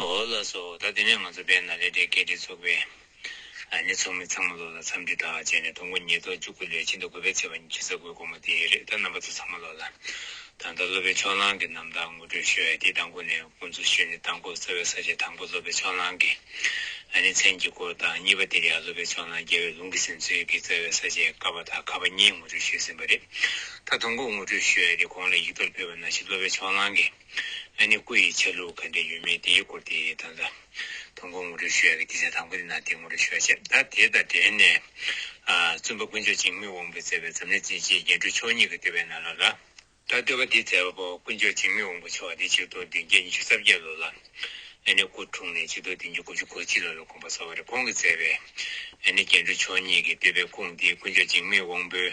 ཨོ་ལ་སོ་ད་དེ་ནས་ང་ཚོ་པའི་ནཱ་ལེནྡྲའི་སྐད་བྲིས་ཚོགས་པའི་ནས་ཚོགས་མི་ཚང་མ་ལོག་ལ་འཚམས་འདྲི་དག་བྱས་ནས་དང་པོ་ཉིས་སྟོང་བཅུ་དགུ་ལོའི་ཕྱི་ཟླ་དགུ་པའི་ཚེས་པ་ཉིན་གྱི་གཟའ་དགུའི་དགོང་མོ་དེའི་རེད་ད་རྣམ་པ་ཚོ་ཚང་མ་ལོག་ལ་ད་ལྟ་སློབ་པའི་ཕྱོགས་ལྷང་གི་རྣམ་ཐར་ངོ་སྤྲོད་ཞུ་ཡ་དེ་དང་པོ་ནས་དགོངས་ཚུལ་ཞུས་ནས་དང་པོ་རྩ་བའི་ས་བཅད་དང་པོ་སློབ་པའི་ཕྱོགས་ལྷང་གི་ནས་མཚན་གྱི་སྐོར་དང་གཉིས་པ་དེར་ཡང་སློབ་པའི་ཕྱོགས་ལྷང་རྒྱལ་བའི་ལུང་གི་ཟིན་ཚུལ་གྱི་རྩ་བའི་ས་བཅད་ཀ་པ་དང་ཁ་པ་གཉིས་ངོ་སྤྲོད་ཞུས་ཟིན་པ་རེད་ད་དང་པོ་ངོ་སྤྲོད་ཞུ་ཡ་དེ་གོང་ལ་ཡིག་ཐོར་ཕུལ་བ་ན་བཞིན་སློབ་པའི་ཕྱོགས་ལྷང་གི། ཨ་ནི་སྐུ་ཡི་ཆ་ལུགས་ག་འདྲའི་ཡོད་མེད་དེའི་སྐོར་དེ་ད་ལྟ་ཐོན་ཁུངས་ངོ་སྤྲོད་ཞུ་ཡ་གི་སྡེ་ཚན་དང་པོ་དེ་ནང་དེ་ངོ་སྤྲོད་ཞུ་བ་བྱས་ད་དེ་དང་འབྲེལ་ནས། བཙུན་པ་དཀོན་མཆོག་བྱིང་རྨུགས་དབང་པོས་བསྩལ་བའི་འཛམ་གླིང་སྤྱིའི་རྒྱན་དྲུག་མཆོག་གཉིས་ཀྱི་བསྟོད་པའི་ནང་ལ་ལ། ད་བསྟོད་པ་འདི་བསྩལ་བ་པོ་དཀོན་མཆོག་བྱིང་རྨུགས་དབང་པོ་མཆོག་དེ་ཆིག་སྟོང་བདུན་བརྒྱ་ཉི་ཤུ་རྩ་བརྒྱད་ལོ་ལ་ཨ་ནི་སྐུ་འཁྲུངས་ནས་ཆིག་སྟོང་བདུན་བརྒྱ་དགུ་བཅུ་གོ་གཅིག་ལོ་ལ་དགོངས་པ་བསྩལ་བ་རེད་ཁོང་གིས་བསྩལ་བའི་ཨ་ནི་རྒྱན་དྲུག་མཆོག་གཉིས་ཀྱི་བསྟོད་པའི་ཁུངས་དེ་དཀོན་མཆོག་བྱིང་རྨུགས་དབང་པོའི།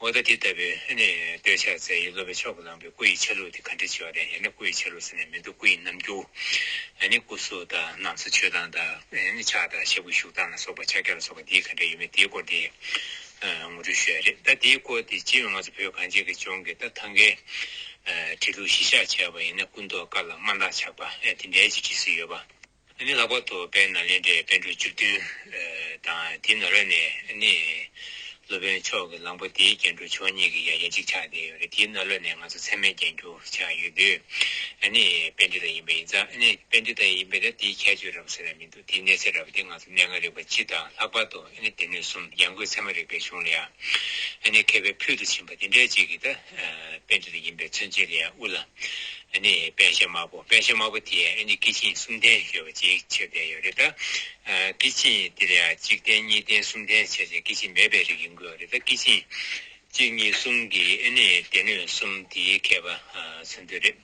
མོ་ད་དེ་ལྟ་བུའི་ཨ་ནི་སྟོད་ཕྱག་འཚལ་ཡིད་སློབ་པའི་མཆོག་གི་བླངས་པའི་སྐུ་ཡི་ཆ་ལུགས་དེ་ག་འདྲའི་ཆེ་བ་དང་ཡང་ན་སྐུ་ཡི་ཆ་ལུགས་ཟེར་ནས་མི་འདུག་སྐུ་ཡི་རྣམ་འགྱུར། ཨ་ནི་སྐུ་གཟུགས་དང་ནང་སོ་མཆོད་སྟངས་དང་ཨ་ནི་ཕྱག་དང་ཕྱག་གུས་བཞུགས་སྟངས་ལ་སོགས་པ་ཕྱག་རྒྱ་ལ་སོགས་པ་འདིའི་ག་འདྲ་ཡོད་མེད་དེའི་སྐོར་དེ་ངོ་སྤྲོད་ཞུ་ཡ་རེད་ད་དེའི་སྐོར་དེ་སྤྱིར་ང་ཚོ་བོད་གངས་ཅན་གྱི་ལྗོངས་ཀྱི་ད་ཐང་གའི་ཁྲི་གདུགས་བཞི་ཤག་བྱས་པ་ཡིན་ན་སྐུ་མདོག་དཀར་ལ་དམར་འདག་ཆགས་པ་ཨེ་དེ་འདྲའི་ཅིག་བྲིས་སྲོལ་ཡོད་པ། དེ་ནི་ལྷག་པར་དུ་བན་ནཱ་ལེནྡྲའི་དཔོན་གྲུབ་བཅུ་བདུན་དང་དེའི་ནང་རོལ་ནས་ནི། སློབ་དཔོན་མཆོག་གི་གླང་པོ་དེའི་རྒྱན་དྲུག་མཆོག་གཉིས་ཀྱི་ཡང་ཡང་གཅིག་ཆགས་ཏེ་ཡོད་རེད་དེའི་ནང་རོལ་ནས་ང་ཚོ་ཚད་མའི་རྒྱན་གྱུ་ཆགས་ཡོད་དུས་ནི་དཔལ་འདི་དང་ཡིན་པ་ཡིན་ཙང་ནི་དཔལ་འདི་དང་ཡིན་པས་ན་དེའི་ཁྱད་ཆོས་རམ་ཟེར་ན་མི་འདུག་དེའི་གནས་ཚད་རབ་དེ་ང་ཚོ་གནས་ལྔ་རིག་པ་སྤྱི་དང་ལྷག་པར་དུ་ནི་སྡེ་སྣོད་གསུམ་ཡང་སྒོས་ཚད་མ་རིག་པའི་གཞུང་ལ་ཡང་ནི་མཁས་པའི་ཕུལ་དུ་ཕྱིན་པ་དེ་འདྲའི་གཅིག་གིས་ད་དཔེ་འདི་དང་ཡིན་པའི་མཚོན་བྱེད་ལས་དབུ་ལ་ནི་དཔེ་བྱད་དམར་པོ་དཔེ་བྱད་དམར་པོ་དེ་ཡང་ཨེ་ནི་ཀི་ཆིང་གསུམ་ལྡན་ཞེས་པ་ཅིག་ཕྱིར་ལྡན་ཡོད་རེད་ད། ཀི་ཆིང་འདིར་ཡང་གཅིག་ལྡན་གཉིས་ལྡན་གསུམ་ལྡན་བྱས་ཅིང་ཀི་ཆིང་མེད་པའི་རིགས་ཡིན་དགོས་པ་རེད་ད་ཀི་ཆིང་གཅིག་གཉིས་གསུམ་གྱི་ཨེ་ནི་སྡེ་སྣོད་གསུམ་དེའི་མཁས་པ་མཚོན་དོན་རེད།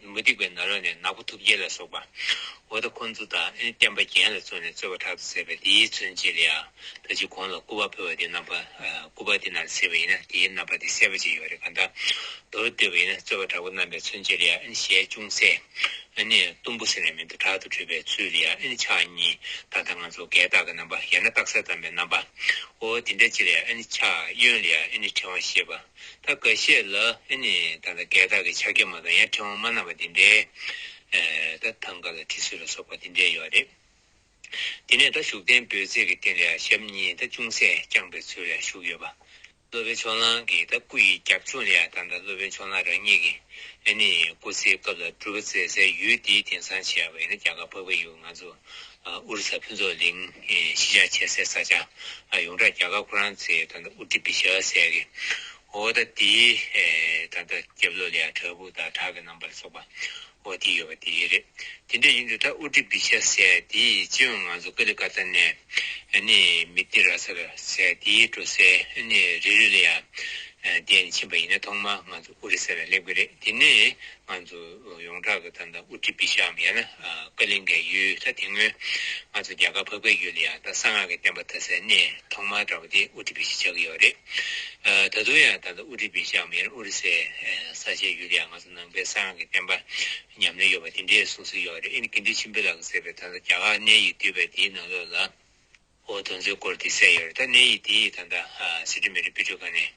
མུ་སྟེགས་པའི་ནཱ་རོ་ནས་ནག་པོ་ཐུབ་རྒྱལ་ལ་སོགས་པ། འོ་ད་ཁོང་ཚོ་དང་ཨེ་བསྟན་པ་རྒྱན་ལ་བཙོན་ནས་རྩོད་པ་དྲག་ཏུ་ཟེར་བས་དེའི་མཚོན་བྱེད་ལ་ཡང་ད་ཅི་གོང་ལ་སྐུ་བ་ཕུལ་བ་དེ་རྣམ་པ་སྐུ་བ་དེ་རྣམས་ཟེར་བ་ཡིན་ན་དེའི་རྣམ་པ་དེ་གསལ་བོ་ཅིག་ཡོད་རེད་ག་འདྲ། མདོར་བསྡུས་པ་ཡིན་ན་རྩོད་པ་དྲག་པོ་རྣམ་པའི་མཚོན་བྱེད་ལ་ཡང་ཨེ་ཞལ་ཅུང་ཟད་ཨེ་ནས་གཏུམ་པོ་ཟེར་ནས་མིང་དུ་དྲག་ཏུ་བྲིས་པའི་ཚུལ་ལ་ཡང་ཨེ་ཆགས་གཉིས་ད་ལྟ་ང་ཚོ་བགེགས་བཏགས་ཀྱི་རྣམ་པ་ཡང་ན་རྟགས་གསལ་ཙམ་པའི་རྣམ་པ་འོ་དེ་འདྲ་ཅིག་ལ་ཡང་ཨེ་ཆགས་གཡོན་ལ་ཡང་ཨེ་ནས་ཕྲེང་བ་ཞེས་པ། ད་ག་བཤད་ལ་ཨེ་ནི་ད་ལ་སྐད་དག་གི་ཕྱག་རྒྱ་མ་དང་ཡང་ཕྲེང་བ་མ་བསྣམས་པ་འདི་འདྲའི་ད་ཐང་ག་ལ་ཁྲི་སུལ་ལ་སོགས་པ་འདི་འདྲའི་ཡོད་རེད། དེ་ནས་ད་བཞུགས་གདན་འབོད་ཚིག་གི་སྟེང་ལས་ཞབས་གཉིས་ད་ཅུང་ཟད་བརྐྱངས་པའི་ཚུལ་ལས་བཞུགས་ཡོད་པ། སློབ་དཔོན་ཕྱོགས་གླང་གིས་ད་སྐུ་ཡི་རྒྱབ་ལྗོངས་ལས་ད་ད་སློབ་དཔོན་ཕྱོགས་གླང་རང་ཉིད་ཀྱིས་ཨེ་ནི་སྐུ་ཚེའི་སྐབས་ལ་སྒྲུབ་པ་མཛད་སའི་ཡུལ་འདིའི་དེང་སང་བྱས་པ་ཡིན་ན་རྒྱ་གར་འཕགས་པའི་ཡུལ་ང་ཚོ་ཨུ་རུ་སཱ་ཕུན་ཚོགས་གླིང་གཞིས་ཆགས་བྱེད་སའི་ས་ཆ་ཡོངས་གྲགས་རྒྱ་གར་ཁོ་རང་ཚོའི་ད་ལྟ་ཨུ་ཏི་བི་ཤཱ་ཟས་ཀྱི་འོག་ད་ལྟའི་ད་ལྟ་རྒྱབ་ལོགས་ལེ་ཨ་བྲག་ཕུག་དང་བྲག་གི་རྣམ་པར་སོགས་པ་འོག་དེ་ཡོད་པ་དེ་རེད། དེ་འདྲ་ཡིན་དུས་ད་ཨུ་ཏི་བི་ཤཱ་ཟས་དེའི་སྤྱི་ཡོངས་ང་ཚོ་ཀ་ལི་ཀ་ཐ་ནས་ནི་མི་ཏི་ར་སར་ཟས་དེའི་འགྲོ་སའི་ནི་རི་རུ་ལེ་ཨ་དེ་ནི་ཕྱིན་པ་ཡིན་ན་ཐོག་མར་ང་ཚོ་ཨུ་རི་སཱ་ལ་སླེབས་ཀྱི་རེད་དེ་ནས་ང་ཚོ། ཡོངས་གྲགས་ཀྱི་ཐད་ན་ཨུ་ཏི་པི་ཤམ་ཡང་ན་ཀ་ལིང་གའི་ཡུལ་ད་དེ་སྔོན་ང་ཚོ་རྒྱ་གར་ཕག་པའི་ཡུལ་ལ་ཡང་ད་གསང་སྔགས་ཀྱི་བསྟན་པ་དར་སའི་གནས་ཐོག་མ་འདྲ་བ་དེ་ཨུ་ཏི་པི་ཞེས་བྱ་གི་ཡོད་རེད། ད་དུང་ཡང་ད་ལྟ་ཨུ་ཏི་པི་ཤམ་ཡང་ན་ཨོ་རི་སའི་ས་ཆའི་ཡུལ་ལ་ཡང་ང་ཚོ་ནང་པའི་གསང་སྔགས་ཀྱི་བསྟན་པ་ཉམས་ལེན་ཡོད་པ་དེ་འདྲའི་གསུངས་སྲོལ་ཡོད་རེད་ཨིན་གི་འདི་ཆིན་པི་ལག་གིས་བསྲེས་པའི་ད་ལྟ་རྒྱ་གར་གནས་ཡིག་བསྡུས་པའི་དེའི་ནང་ལོགས་ལ། འོ་དོ་མཛོད་སྐོར་དེ་གསལ་ཡོད་རེད་ད་གནས་ཡིག་དེ་ད་ལྟ་སི་ཁྲོན་མི་རིགས་དཔེ་སྐྲུན་ཁང་ནས་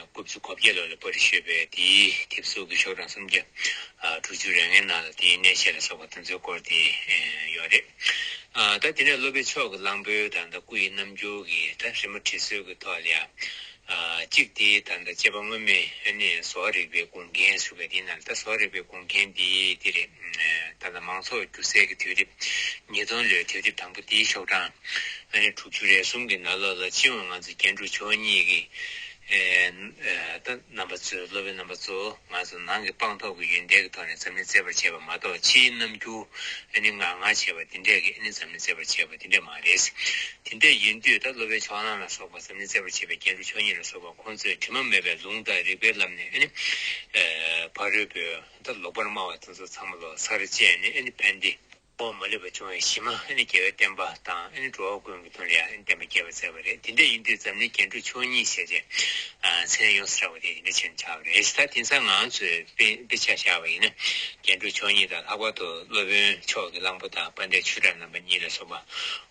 རྐུབ་ཚུགས་གོ་བརྒྱད་ལོར་ལ་པོ་རི་ཤོད་པའི་དེའི་དེབ་གཟུགས་ཀྱི་ཤོག་གྲངས་སུམ་བརྒྱ་དྲུག་ཅུ་རེ་ལྔའི་ནང་ལ་དེའི་གནས་བཤད་ལ་སོགས་པ་དོ་མཛོད་སྐོར་དེ་ཡོད་རེད་ད་དེ་ནས་སློབ་དཔོན་མཆོག་གི་གླང་པོའི་ད་ལྟ་སྐུ་ཡི་རྣམ་འགྱུར་གྱི་ད་རི་མོ་བྲིས་སྲོལ་གྱི་ཐོག་ལ་ཡང་གཅིག་དེ་དང་དང་བཅས་པ་སྔོན་མེད་ནས་བཟོ་རིག་པའི་དགོངས་རྒྱན་ཟུར་བས་དེ་ནང་ད་བཟོ་རིག་པའི་དགོངས་རྒྱན་དེ་དེ་རེད། ད་ལྟ་མང་ཚོགས་སྒྱུ་རྩལ་གྱི་དུས་རིབ། ཉིས་སྟོང་ལོའི་དུས་རིབ་དང་པོ་དེའི་ཤོག་གྲངས། ཨ་རི་དྲུག་ཅུ་རེ་གསུམ་གྱི་ནང་ལོགས་ལ་སྤྱི་ཡོངས་ང་ཚོ་རྒྱན་དྲུག་མཆོག་གཉིས་ཀྱི། ད་རྣམ་པ་ཚོའི་སློབ་དཔོན་རྣམ་པ་ཚོ། ང་ཚོ་ནང་གི་དཔང་རྟགས་ཀྱི་ཡོན་ཏན་གྱི་ཐོག་ནས་འཛམ་གླིང་བརྩད་པར་བྱས་པ་མ་གཏོགས་ཕྱིའི་རྣམ་འགྱུར་ཨ་ནི་ང་ང་བྱས་པ་དེ་འདྲས་ཀྱིས་ཨ་ནི་འཛམ་གླིང་བརྩད་པར་བྱས་པ་དེ་འདྲས་མ་རེད། དེ་འདྲས་ཡིན་དུས་ད་སློབ་པའི་ཕྱོགས་གླང་ལ་སོགས་པ་འཛམ་གླིང་བརྩད་པར་བྱེད་པའི་རྒྱན་དྲུག་མཆོག་གཉིས་ལ་སོགས་པ་ཁོང་ཚོས་དྲི་མ་མེད་པའི་ལུང་དང་རིགས་པའི་ལམ་ནས་ཨ་ནི། ཕ་རོལ་པོས་ད་ལོག་པར་སྨྲ་བ་དེ་ཚོ་ཚང་མ་ལོ་སར་བཅད་ནས་ཨ་ནི་ཕན་བདེ། འོག་མ་ལེགས་པར་བྱུང་བའི་གཞི་མ་ཨ་ནི་རྒྱལ་བའི་བསྟན་པ་དང་ཨ་ནི་འགྲོ་བ་ཀུན་གྱི་དོན་ལ་ཡང་ཨ་ནི་བསྟན་པ་རྒྱས་པར་མཛད་པ་རེད་དེ་འདྲ་ཡིན་དུས་འཛམ་གླིང་རྒྱན་དྲུག་ཆོས་གཉིས་ཞེས་བྱའི་མཚན་ལ་ཡོངས་སུ་གྲགས་པ་དེ་འདི་འདྲ་བྱས་ན་ཆགས་པ་རེད་ད་དེང་སང་ང་ཚོས་དཔེ་དཔེ་ཆ་བཞག་པ་ཡིན་ན་རྒྱན་དྲུག་ཆོས་གཉིས་དང་ལྷག་པར་དུ་སློབ་དཔོན་ཕྱོགས་ཀྱི་གླང་པོ་དང་དཔའ་འདས་ཆོས་གྲགས་རྣམ་པ་གཉིས་ལ་སོགས་པ་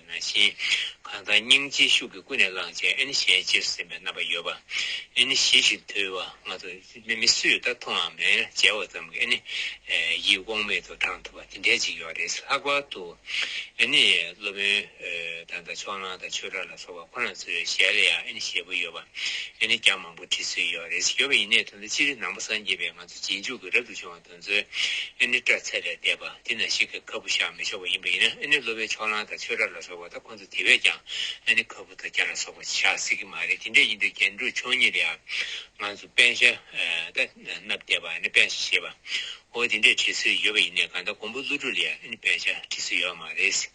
ཞེས། གང་དག་སྙིང་རྗེའི་ཤུགས་ཀྱིས་ཀུན་ནས་བསླངས་བྱས་ཨེ་ནི་ཞེས་ཅེར་ཟིན་པའི་རྣམ་པ་ཡོད་པ། ཨེ་ནི་ཞི་ཞིག་དུལ་བ་ང་དང་མི་མི་སུས་ད་ཐུང་འང་མེད་འཇལ་བ་ཙམ་གྱིས་ཨེ་ནི། ཡིད་དབང་མེད་དུ་དྲངས་ཐུབ་པ་དེ་འདྲའི་ཅིག་ཡོད་རེད་ལྷག་པར་དུ། ཨེ་ནི། སློབ་དཔོན་དང་དང་ཕྱོགས་གླང་དང་ཆོས་གྲགས་ལ་སོགས་པ་ཁོ་ན་ཚོའི་ཞལ་ལ་ཡང་ཨེ་ནི་ཞེད་པོ་ཡོད་པ། ཨེ་ནི་རྒྱ་མང་པོ་བྲིས་ཚོད་ཡོད་རེད་ཡོད་པ་ཡིན་ནའི་དོན་དུ་སྤྱིར་ནང་པ་སངས་རྒྱས་པའི་ང་ཚོ་རྗེས་འཇུག་གི་རབ་ཏུ་བྱུང་བ་དང། མཛོད། ཨེ་ནི་སྐྲ་ཚེར་ལས་འདས་པ་འདི་ན་ཞིག་གིས་ག་བུ་བཞག་མི་ཆོག་པ་ཡིན་པ་ཡིན་ན་ཨེ་ནི་གློ་བའི་ཕྱོགས་གླང་དང་ཆོས་གྲགས་ལ་སོགས་པ་དང་ཁོ་ཚོ་དེ་བས་ཀྱང་ཨེ་ནི་ག་བུ་དང་རྒྱ་ལ་སོགས་པ་བཞག་སྲིད་ཀྱི་མ་རེད་དེ་འདྲས་ཡིན་དུས་རྒྱན་དྲུག་མཆོག་ཉིད་ལ་ང་ཚོ་དཔལ་ཤ་ཏྭ་སྣབས་བརྡེག་པ་ཨེ་ནི་དཔལ་ཤ་ཞེས་པ་འོ་དེ་འདྲས་བྲིས་སྲོལ་ཡོད་པ་ཡིན་ནས་གང་ལྟར་མགོན་པོ་ཀླུ་སྒྲུབ་ལས་ཨེ་ནི་དཔལ་ཤ་བྲིས་སྲོལ་ཡོད་པ་མ་རེད།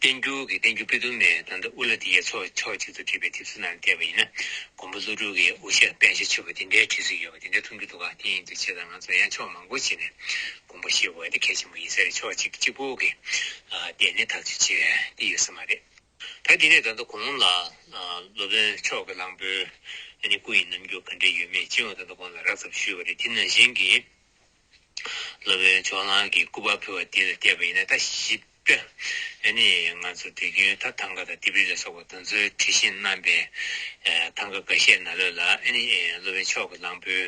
བསྟན་འགྱུར་གྱི་བསྟན་འགྱུར་པི་ཏུ་མའི་དང་ཟླ་འུ་ལ་ཏི་ཡའི་ཚོགས་ཕྱོགས་གཅིག་ཏུ་བྲིས་པའི་དེབ་ཚུལ་རྣམས་བལྟས་པ་ཡིན་ན་མགོན་པོ་ཀླུ་སྒྲུབ་ཀྱི་དབུ་ཞྭ་དཔལ་ཞྭ་ཆོས་པ་འདི་འདྲའི་བྲིས་ཚུལ་ཡོད་པ་འདི་འདྲ་མཐོང་རྒྱུ་འདུག་ག་དེ་ཡིན་དུས་ཆེས་དང་ང་ཚོ་ཡང་ཕྱོགས་མང་པོ་ཕྱེས་ནས་མགོན་པོ་ཞེས་འོས་དེ་གལ་ཆེན་པོ་ཡིན་ས་རེད་ཕྱོགས་གཅིག་གཅིག་པོ་གི་ལྟས་ནས་ཐག་གཅོད་བྱེད་ཀྱི་ཡོད་ས་མ་རེད། ད་དེ་ནས་ད་ལྟ་གོང་ལ་སློབ་དཔོན་མཆོག་གི་གླང་པོའི་ནི་སྐུ་ཡི་རྣམ་འགྱུར་ག་འདྲས་ཡོད་མེད་སྤྱི་ཡོངས་ད་ལྟ་གོང་ལ་རགས་ཙམ་ཞུས་པ་རེད་དེ་ནང་བཞིན་གྱི་སློབ་དཔོན་མཆོག་ལགས་ཀྱིས་སྐུ་པར་ཕུལ་བ་དེ་ལ་བལྟས་པ་ཡིན་ན་ལྟ་ཞིབ། ཨ་ནི་ང་ཚོ་དུས་རྒྱུན་ཐ་ཐང་ཀ་དང་ལྡེབས་རིས་ལ་སོགས་པ་དང་ཚོའི་བྲིས་ཤིང་བསྣམས་པའི་ཐང་ཀ་འགའ་ཤས་ན་ལོས་ལ་ཨ་ནི་སློབ་དཔོན་མཆོག་གི་གླང་པོའི་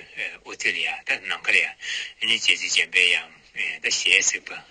དབུ་དེ་ལ་ཡང་ལྟ་ནམ་མཁའ་ལ་ཡང་ཨ་ནི་རྗེ་བཙུན་འཇམ་དཔལ་ཡང་ལྟ་ཞེས་གཟིགས་པ།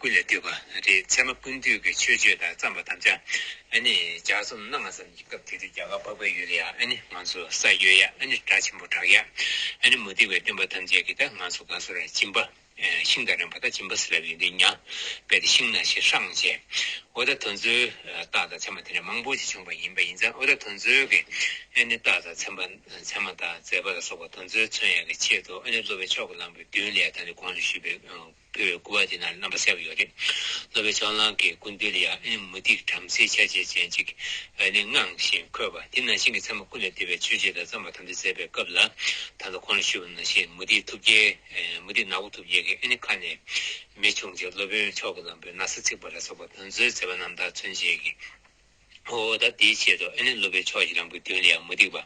ཀུན་ལ་བསྟོད་པ་རེད་ཚད་མ་ཀུན་བཏུས་ཀྱི་ཆོས་སྤྱོད་དག་བརྩམས་པ་དམ་བཅའ་ཨ་ནི་ལྗགས་རྩོམ་གནང་བ་ཙམ་གྱི་སྐབས་དེ་དུས་རྒྱ་གར་འཕགས་པའི་ཡུལ་ལ་ཡང་ཨ་ནི་ང་ཚོ་ས་གཡོས་ཡ་ཨ་ནི་སྒྲ་ཆེན་པོ་བསྒྲགས་ཡ་ཨ་ནི་མུ་སྟེགས་པའི་སྟོན་པ་ཐམས་ཅད་ཀྱིས་ད་ང་ཚོ་ག་ཚོད་ར་ཅིམ་པ་ཤིང་དང་རན་པ་ད་ཅིམ་པ་སི་ལབ་ཡོད་འདི་མྱང་པས་ད་ཤིང་ནག་ཤི་ཧྲང་བྱས་འོ་ད་དོན་ཚོའི་རྟགས་དང་མཚན་མ་དེ་འདྲ་མང་པོ་ཅིག་བྱུང་པ་ཡིན་པ་ཡིན་ཙང་འོ་ད་དོན་ཚོའི་གི་ཨ་ནི་རྟགས་དང་མཚན་པ་མཚན་མ་དང་མཛད་པ་ལ་སོགས་པ་དོན་ཚོའི་མཚོན་ཡ་གི་ཆེད་དུ་ཨ་ནི་སློབ་པའི་ཕྱོགས་ཀྱི་ལམ་གྱི་མདུན་ལས་ད་ནི་གོང་དུ་ཞུས་པའི་ཕུལ་བའི་སྐུ་པར་དེ་ན་རྣམ་པ་གསལ་པོ་ཡོད་རེད། ནོ་བྷེལ་ལྕགས་གླང་གི་ཀུན་དོལ་ཡ་ཨན་མུ་ཏིག་བྲམ་ཟེའི་ཆ་བྱད་ཅན་ཅིག་བས་ནི་སྔངས་བཞིན་འཁོད་པ་དེ་ན་ཤིང་གི་ཚད་མ་ཀུན་ལས་འདས་པའི་ཆོས་བྱེད་དང་བརྩམས་པ་ཐམས་ཅད་མཛད་པའི་སྐབས་ལ་ད་ལྟ་ཁོང་ལ་ཞུས་པ་ན་ཤིང་མུ་ཏིག་ཐུབ་རྒྱལ་མུ་ཏིག་ནག་པོ་ཐུབ་རྒྱལ་གྱི་ཨན་ཁ་ནས་མི་བྱུང་རྗེས་སློབ་དཔོན་མཆོག་གི་ལམ་བུའི་ན་བཟའ་ཚིག་པ་ལ་སོགས་པ་དོན་གཙོའི་མཛད་པ་རྣམས་དག་མཚོན་བྱེད་ཀྱི། ཧོ། ད་དེའི་ཆེད་དུ་ཨ་ནི་སློབ་པའི་ཕྱོགས་ཀྱི་རང་བུ་དོན་ལས་མུ་སྟེགས་པ་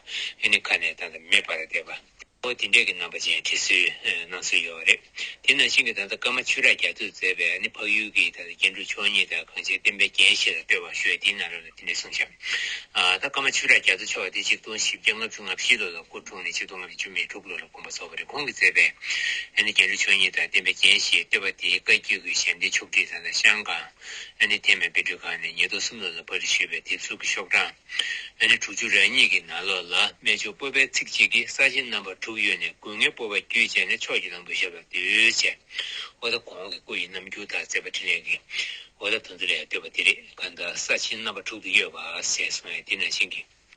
ཨ་ནི་ཁ་ནས་ད་ལྟ་མེད་པར་བསྡད་པ། ཧོ་དེ་འདྲས་ཀྱི་རྣམ་པ་ཅན་བྲིས་སྲོལ་སྣང་སྲོལ་ཡོད་རེད། དེ་ནང་བཞིན་གྱི་ད་ལྟ་ཀར་མ་ཆུ་རགས་རྒྱ་མཚོས་མཛད་པའི་ཨ་ནི་འཕགས་ཡུལ་གྱི་ད་ལྟ་རྒྱན་དྲུག་མཆོག་གཉིས་དང་གང་ཆེའི་བསྟན་པའི་རྒྱན་ཞེས་ལ་སྤྲོས་པ་ཤོད་དེའི་ནང་རོལ་ལ་དེ་འདྲས་གསུངས་བཞག། ད་ཀར་མ་ཆུ་རགས་རྒྱ་མཚོ་མཆོག་དེ་ཆིག་སྟོང་བཞི་བརྒྱ་ལྔ་བཅུ་ང་བཞི་ལོ་ལ་སྐུ་འཁྲུངས་ནས་ཆིག་སྟོང་ལྔ་བརྒྱ་བཅུ་མེད་དྲུག་ལོ་ལ་དགོངས་པ་རྫོགས་པ་རེད་ཁོང་གིས་མཛད་པའི་ཨ་ནི་རྒྱན་དྲུག་མཆོག་གཉིས་དང་བསྟན་པའི་རྒྱན་ཞེས་བསྟོད་པ་དེའི་བཀའ་བརྒྱུད་ཀྱི་ཞལ་འདེབས་ཆོག་ཁྲིགས་ད་ལྟ་ཤང་ཀང་ཨ་ནི་ཐེམ་པའི་དཔེ་སྤྲོད་ཁང་ནས་ཉེར་བསྡོགས་སུམ་ལ་ལ་བར་རི་ཞེས་པའི་དེབ་གཟུགས་ཀྱི་ཤོག་གྲངས། ཨ་ནི་དྲུག་ཅུ་རེ་གཉིས་ཀྱི་ནང་ལོགས་ལ་སྨད་ཕྱོགས་སྤོས་པའི་ཚིགས་གཅིག་གིས་ས་ཆེན་རྣམ་པ་དྲུག་གཡོས་ནས་དགུན་ངའི་སྤོས་པ་བརྒྱུད་བཅད་ནས་ཕྱོགས་ཀྱི་ལམ་བུ་ཞབས་ལ་བསྡུས། བྱས། ཨོ་ད་གོང་གི་སྐུ་ཡི་རྣམ་འགྱུར་དག་མཛད་པ་འཕྲིན་ལས་ཀྱི། ཨོ་ད་དོན་དུ་ལས་བཏོད་པ་འདི་རེད་ག་ད་ས་ཆེན་རྣམ་པ་དྲུག་ཏུ་གཡོས་པ་ཟེར་སོང་ཡང་འདི་ན་བྱིངས་ཀྱི།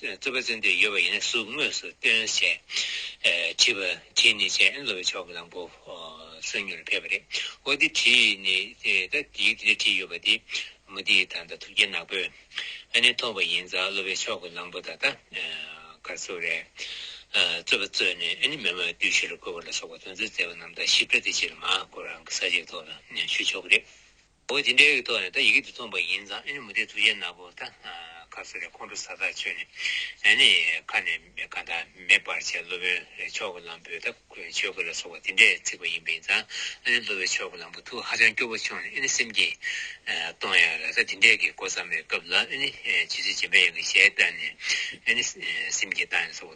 རྩོད་པ་རྩོད་འདོད་ཡོད་པ་ཡིན་ན་སུས་དངོས་སུ་སྟོན་ཞེས་དྲིས་པར་དེ་ནི་ཅན་ཨན་ལོ་བའི་ཕྱོགས་ཀྱི་ལམ་བུ་སོན་མྱུར་ཕེབས་པ་རེད་འོ་དེ་དྲིས་ནི་ད་ཡིག་འདི་འདྲ་བྲིས་ཡོད་པ་དེ་མུ་ཏིག་དང་ད་ཐུགས་རྒྱལ་ནག་པོས་ཨ་ནི་མཐོང་བ་ཡིན་ཙང་ལོ་བའི་ཕྱོགས་ཀྱི་ལམ་བུ་ད་ལྟ་ག་ཚོད་རེད་རྩོད་པ་རྩོད་ནས་ཨ་ནི་མེ་མོའི་བདུད་བཞི་རུ་བཀོལ་བ་ལ་སོགས་པ་དོན་ཚོད་བཙལ་བ་རྣམས་དང་ཞིབ་ཕྲ་དེ་ཕྱིར་མ་གོ་རང་གི་ས་གཞིར་ཐོག་ལ་ཞུ་ཆོག་གི་རེད། འོ་དེ་འདྲའི་ཐོག་ནས་ད་ཡི་གེ་འདི་རྩོམ་པ་ཡིན་ཙང་ཨ་ནི་མུ་སྟེགས་ཐུགས་རྗེ་ནག་པོ་ད་ཁ་གསོ་རེད་ཁོང་ཁྲོ་ཟ་ཐག་ཆོད་ནས་ཨ་ནི་ཁ་ནས་ཁ་བརྡ་མེད་པར་བྱས་སློབ་དཔོན་རེད་ཆོག་གི་ལམ་བུ་ད་ཆོས་གོས་ལ་སོགས་པ་དེ་འདྲས་ཚིག་པ་ཡིན་པ་ཡིན་ཙང་ཨ་ནི་སློབ་བའི་ཆོས་གོས་ལམ་བུ་ཐུགས་ཧ་ཅང་སྐྱོ་བོ་ཆོག་ནས་ཨ་ནི་སེམས་ཀྱིས་སྟོང་ཡ་རེད་ད་དེ་འདྲས་ཀྱི་གོ་བརྩམས་པའི་སྐབས་ལ་ཨ་ནི་ཇི་ཚོད་སྦྱིན་པ་ཡང་གི་ཞལ་བསྟར་ནས་ཨ་ནི་སེམས་ཀྱིས་བཏང་ཡ་སོགས་པ།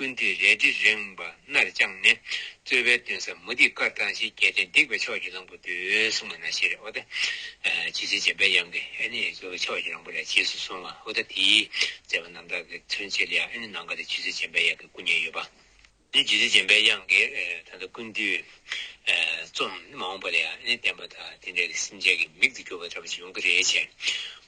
ཀུན་དེ་རལ་གྲི་རེངས་པ་སྣར་དཔྱངས་ནས། རྩོད་པའི་སྟོན་ས་མུ་ཏིག་དཀར་དང་བཞི་གྱེས་ཏེ་འདེགས་པའི་ཕྱོགས་ཀྱི་གླང་པོ་དུས་གསུམ་མ་ན་ཤེས་རེག་ཨོ་ད། ཇི་སྲིད་འཇམ་པའི་དབྱངས་ཀྱི་ཨེ་ནི་རྩོལ་བའི་ཕྱོགས་ཀྱི་གླང་པོ་ལས་རྗེས་སུ་བཟུང་བ་ཨོ་ད་དེའི་མཛད་པ་རྣམ་དག་གི་མཚོན་བྱེད་ལ་ཡང་ཨེ་ནི་ནང་དགའ་དེ་ཇི་སྲིད་འཇམ་པའི་དབྱངས་ཀྱི་སྐུ་བརྙན་ཡོད་པ། ནི་ཇི་སྲིད་འཇམ་པའི་དབྱངས་ཀྱི་ད་ལྟ་ཀུན་དུས། རྩོམ་ནི་མ་འོངས་པ་ལ་ཡང་ཨེ་ནི་བསྟན་པ་དང་དེ་འདྲ་གི་སེམས་ཅན་གྱི་མིག་ཏུ་གྱུར་པ་འདྲ་པོ་ཞིག་ཡོང་གི་རེད་བྱས།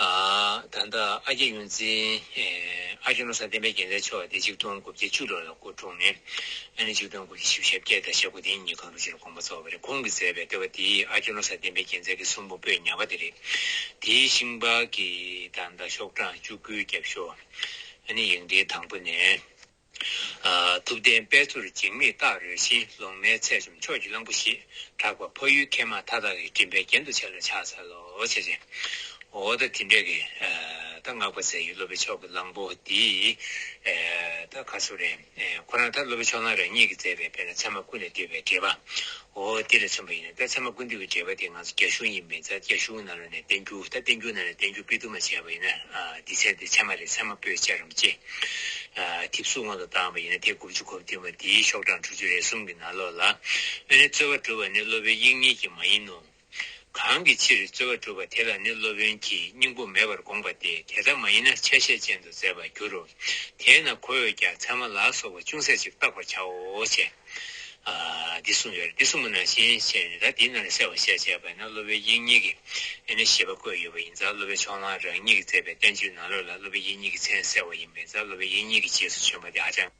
ད་ལྟ་ཨ་རྒྱ་ཡོངས་འཛིན་ཨ་ཆོས་ལོ་སར་བསྟན་པའི་རྒྱལ་མཚན་མཆོག་དེ་གཅིག་སྟོང་དགུ་བརྒྱ་བཅུ་ལོ་ལ་སྐུ་འཁྲུངས་ནས་ཨ་ནེ་གཅིག་སྟོང་དགུ་བརྒྱ་ཞེ་བཞི་ཞབས་བརྒྱད་དང་ཞབས་དགུ་དེ་གཉིས་གང་རུང་ཕྱིར་དགོངས་པ་རྫོགས་པ་རེད་ཁོང་གིས་མཛད་པའི་ལྟེ་བ་དེ་ཨ་ཆོས་ལོ་སར་བསྟན་པའི་རྒྱལ་མཚན་གྱི་གསུང་འབུམ་པོད་ཉག་པ་དེ་རེད། དེའི་ཤིང་པར་གྱི་ད་ལྟ་ཤོག་གྲངས་བཅུ་དགུའི་རྒྱབ་ཤོག་ཨ་ནེ་ཡིག་འབྲེལ་དང་པོ་ནས། ཐུབ་བསྟན་དཔལ་ཚུར་འཇིགས་མེད་སྟག་རོལ་བཞིན་ལོང་མའི་ཚལ་བྱམས་ཆོས་ཀྱི་གླང་པོ་ཞེས་གྲགས་པ་ཕ་ཡུལ་མཁས་མང་མཐའ་དག་གི་མགྲིན་པའི་རྒྱན་དུ་བྱས་ལ་ཕྱག་འཚལ་ལོ། ཅེས་རེ་འོ་ད་དེ་འདྲ་གི་ད་སྔགས་པ་ཚེ་ཡི་སློབ་པའི་ཕྱོགས་ཀྱི་གླང་པོ་འདི་ད་ག་ཚོད་རེད། ཁོ་རང་ད་སློབ་པའི་ཕྱོགས་གླང་རང་ཉིད་ཀྱིས་མཛད་པའི་དཔེར་ན་ཚད་མ་ཀུན་ལས་འདས་པའི་འགྲེལ་པ་འོ་དེ་ལས་མཚོན་པ་ཡིན་ན་ད་ཚང་མ་ཀུན་འདུས་ཀྱི་འགྲེལ་པ་དེ་ང་ཚོ་རྒྱ་གཞུང་ཡིན་མིན་ད་རྒྱ་གཞུང་ནང་ལ་ནས་བསྟན་རྒྱུ་ད་བསྟན་རྒྱུ་ནང་ནས་བསྟན་རྒྱུ་དཔེ་བསྡུར་མ་བྱས་པ་ཡིན་ན་འདི་ཚན་དེ་ཚན་མ་རེད་ཚང་མ་པོས་ཅར་རམ་ཅི། དེབ་གཟུགས་སྔོན་དུ་བཏང་བ་ཡིན་ན་དེ་དགུ་བཅུ་གོ་བདུན་པ་འདིའི་ཤོག་གྲངས་དྲུག་ཅུ་རེ་གསུམ་གྱི་ནང་ལོགས་ལ། དབེན་རེ་རྩོད་པ་བསྒྲུབ་པ་ནི་སློབ་དཔོན་དབྱིག་གཉེན་གྱིས་མ་ཡིན་ནོ། གང་གི་ཕྱིར་རྩོལ་བ་གྲུབ་པ་དེ་ལ་ནི་སློབ་དཔོན་གྱིས་སྙིང་པོ་མེད་པར་དགོངས་པ་སྟེ་དེ་ལྟ་མ་ཡིན་ན་ཆ་ཤས་ཅན་དུ་མཛད་པར་འགྱུར་རོ། དེས་ན་ཁོ་བོས་ཀྱང་ཚད་མ་ལ་སོགས་པ་ཅུང་ཟད་ཅིག་བརྟག་པར་བྱའོ། ཅེས་འདི་གསུངས་པའི་རིགས་འདི་གསུམ་མོ་ནང་བཞིན་བཤད་ནས་ད་འདི་རྣམས་ལ་གསལ་བར་བཤད་ཅེས་པ་ན་སློབ་པའི་དབྱིངས་ཉིད་ཀྱི་ནི་ཞེས་པ་བཀོད་ཡོད་པ་ཡིན་ཙང་སློབ་པའི་ཕྱོགས་གླང་རང་ཉིད་ཀྱིས་མཛད་པའི་བསྟན་བཅོས་ནང་ལོགས་ལ་སློབ་པའི་དབྱིངས་ཉིད་ཀྱི་མཚན་གསལ་བ་ཡིན་པས་ཙང་སློབ་པའི་དབྱིངས་ཉིད་ཀྱི་རྗེས་སུ་བྱོན་པ་དེ་ཧ་ཅང།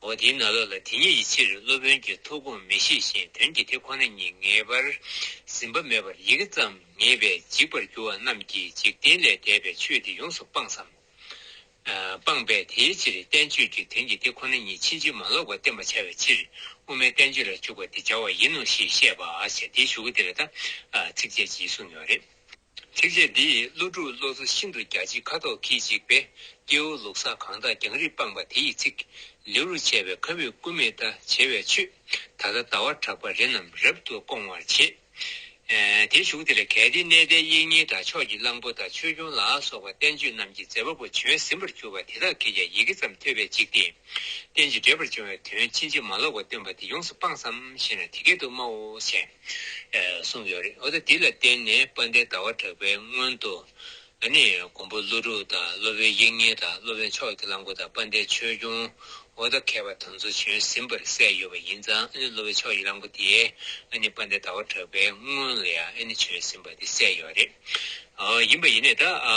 འོ་དེས་ན་ལ་ལ་དེ་ཉིད་ཡི་ཕྱིར་སློབ་དཔོན་གྱི་ཐུགས་དགོངས་མི་ཤེས་ཤིང་དོན་གྱི་དེ་ཁོ་ན་ཉིད་ངེས་པར་ཟིན་པ་མེད་པར་ཡི་གེ་ཙམ་ངེས་པས་འཇིག་པར་འགྱུར་བ་རྣམས་ཀྱིས་འཇིག་རྟེན་ལས་འདས་པའི་ཆོས་འདི་ཡོངས་སུ་སྤངས་སམ། སྤངས་པས་དེའི་ཕྱིར་བསྟན་བཅོས་ཀྱི་དོན་གྱི་དེ་ཁོ་ན་ཉིད་ཕྱིན་ཅི་མ་ལོག་པར་བསྟན་པར་བྱ་བའི་ཕྱིར་དབུ་མའི་བསྟན་བཅོས་ལ་འཇུག་པ་འདི་བྱ་བ་ཡིན་ནོ་ཞེས་བཤད་པ། དེའི་ཞུ་སྒོ་འདི་ལ་ད་ཚིགས་བཅད་གཅིག་གསུངས་ཡོད་རེད། ཚིགས་བཅད་འདིས་ཀླུ་སྒྲུབ་བློ་གཟུ་ཤིན་ཏུ་རྒྱ་ཆེ་ཁ་དོག་གིས་འཇིགས་པའི་སྐྱེ་བོ་ལུག་ཟ་གང་དག་རྒྱང་རིང་སྤངས་པ་དེ་ཡི་ཚིག། ལེའུ་རུ་བྱས་པའི་ཁ་བའི་སྐུ་མེ་ད་བྱེ་བས་ཆུད། ད་ལྟ་ཟླ་བ་གྲགས་པ་རི་རྣམས་རབ་ཏུ་སྐོང་བར་བྱེད། དེ་བཞུགས་དེ་ལ་གལ་ཏེ་གནས་དེའི་དབྱིག་གཉེན་དང་ཕྱོགས་ཀྱི་གླང་པོ་དང་ཆོས་སྐྱོང་ལ་སོགས་པ་བསྟན་བཅོས་རྣམས་ཀྱི་མཛད་པ་པོ་བྱོན་ཟིན་པར་གྱུར་པ་དེ་དག་གིས་ཀྱང་ཡི་གེ་ཙམ་ཐོས་པས་འཇིགས་ཏེ། རྟེན་ཅིང་འབྲེལ་པར་འབྱུང་བའི་དོན་ཕྱིན་ཅི་མ་ལོག་པ་སྟོན་པ་འདི་ཡོངས་སུ་སྤངས་སམ་ཞེ་ན་དེ་སྐད་དུ་སྨྲའོ་ཞེས། གསུངས་ཡོད་རེད་འོ་ད་དེ་ལ་བརྟེན་ནས་དཔལ་ལྡན་ཟླ་བ་གྲགས་པའི་སྔོན་དུ་ཨ་ནི་མགོན་པོ་ཀླུ་སྒྲུབ་དང་སློབ་དཔོན་དབྱིག་གཉེན་དང་སློབ་དཔོན་ཕྱོགས་ཀྱི་བླངས་འཁོར་དང་དཔལ་ལྡན་ཆོས་སྐྱོང་འོ་ད་མཁས་པ་དང་ཚོ་བྱོན་ཟིན་པར་གསལ་ཡོད་པ་ཡིན་ཙང་ཨ་ནི་སློབ་དཔོན་ཕྱོགས་ཀྱི་བླངས་འཁོར་དེ་ཨ་ནི་དཔལ་ལྡན་ཟླ་བ་གྲགས་པའི་སྔོན་ལ་ཡང་ཨ་ནི་བྱོན་ཟིན་པ་དེ་གསལ་ཡོད་རེད་ཡིན་པ་ཡིན་ནས་ད་ཨ་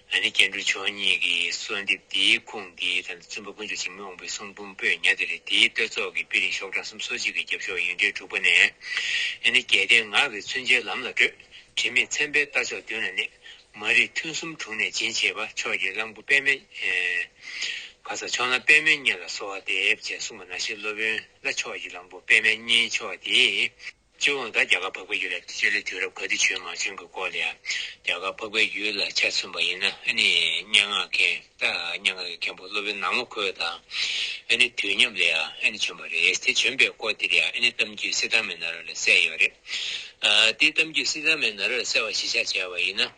ལ་ནི་སྐྱེ་འགྲོ་ཆོས་ཉིད་ཀྱི་གསོལ་འདེབས་དེའི་ཁུངས་འདི་ལྟར་འདུག་བཙུན་པ་དཀོན་མཆོག་འཇིགས་མེད་དབང་པོའི་གསུང་འབུམ་པོད་ཉག་དེ་རེད་དེའི་བསྟོད་ཚོགས་ཀྱི་དཔེ་རིང་ཤོག་གྲངས་གསུམ་སོ་གཅིག་གི་རྒྱབ་ཤོག་ཡིག་འབྲེལ་དྲུག་པ་ནས། ཡང་ན་རྒྱལ་བསྟན་ངག་གི་མཚོན་ཆའི་ལམ་ལ་བགྲོད། དྲི་མེད་མཚན་དཔེའི་རྟ་མཆོག་མདུན་ལ་གནས། མ་རིག་ཐུན་གསུམ་དྲུང་ནས་འབྱིན་བྱེད་པ། ཕྱོགས་ཀྱི་གླང་པོ་པདྨའི། ག་ས་ཕྱོགས་ན་པདྨའི་གཉེན་ལ་གསོལ་བ་འདེབས་ཅེས་གསུངས་པ་ན་ཤེལ་སློབ་དཔོན་ལ་ཕྱོགས་ཀྱི་གླང་པོ་པདྨའི་གཉེན་མཆོག་དེས། སྤྱི་བོ་འགའ་རྒྱ་གར་འཕགས་པའི་ཡུལ་ལ་སྤྱད་ལ་དུས་རབས་ག་དུས་བྱོན་མ་བྱོན་གྱི་སྐོར་ལ་ཡང་རྒྱ་གར་འཕགས་པའི་ཡུལ་ལ་ཆ་མཚོན་པ་ཡིན་ན་ཨ་ནི་སྙན་ངག་མཁན་ད་སྙན་ངག་གི་མཁན་པོ་སློབ་དཔོན་ནག་མོ་ཁོས་དང་ཨ་ནི་དུས་མཉམ་ལ་ཡང་ཨ་ནི་བྱོན་པ་རེད་དེ་བྱོན་པའི་སྐོར་དེར་ཡང་ཨ་ནི་གཏམ་རྒྱུད་སི་དྷར་མེ་ན་ར་ལ་གསལ་ཡོད་རེད་ཨ་དེ་གཏམ་རྒྱུད་སི་དྷར་མེ་ན་ར་ལ་གསལ་བ་གཞི་ཆགས་བྱས་པ་ཡིན་ན་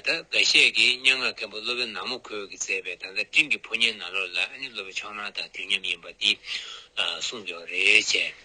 ད་འགའ་ཤས་ཀྱིས་སྙན་ངག་མཁན་པོ་སློབ་དཔོན་ནག་མོ་ཁོས་གིས་མཛད་པའི་ད་ལྟ་སྤྲིན་གྱི་ཕོ་ཉའི་ནང་ལོགས་ལ་ཨ་ནི་སློབ་པའི་མཆོག་ནང་དང་དུས་མཉམ་ཡིན་པ་དེ་གསུངས་ཡོད་རེད།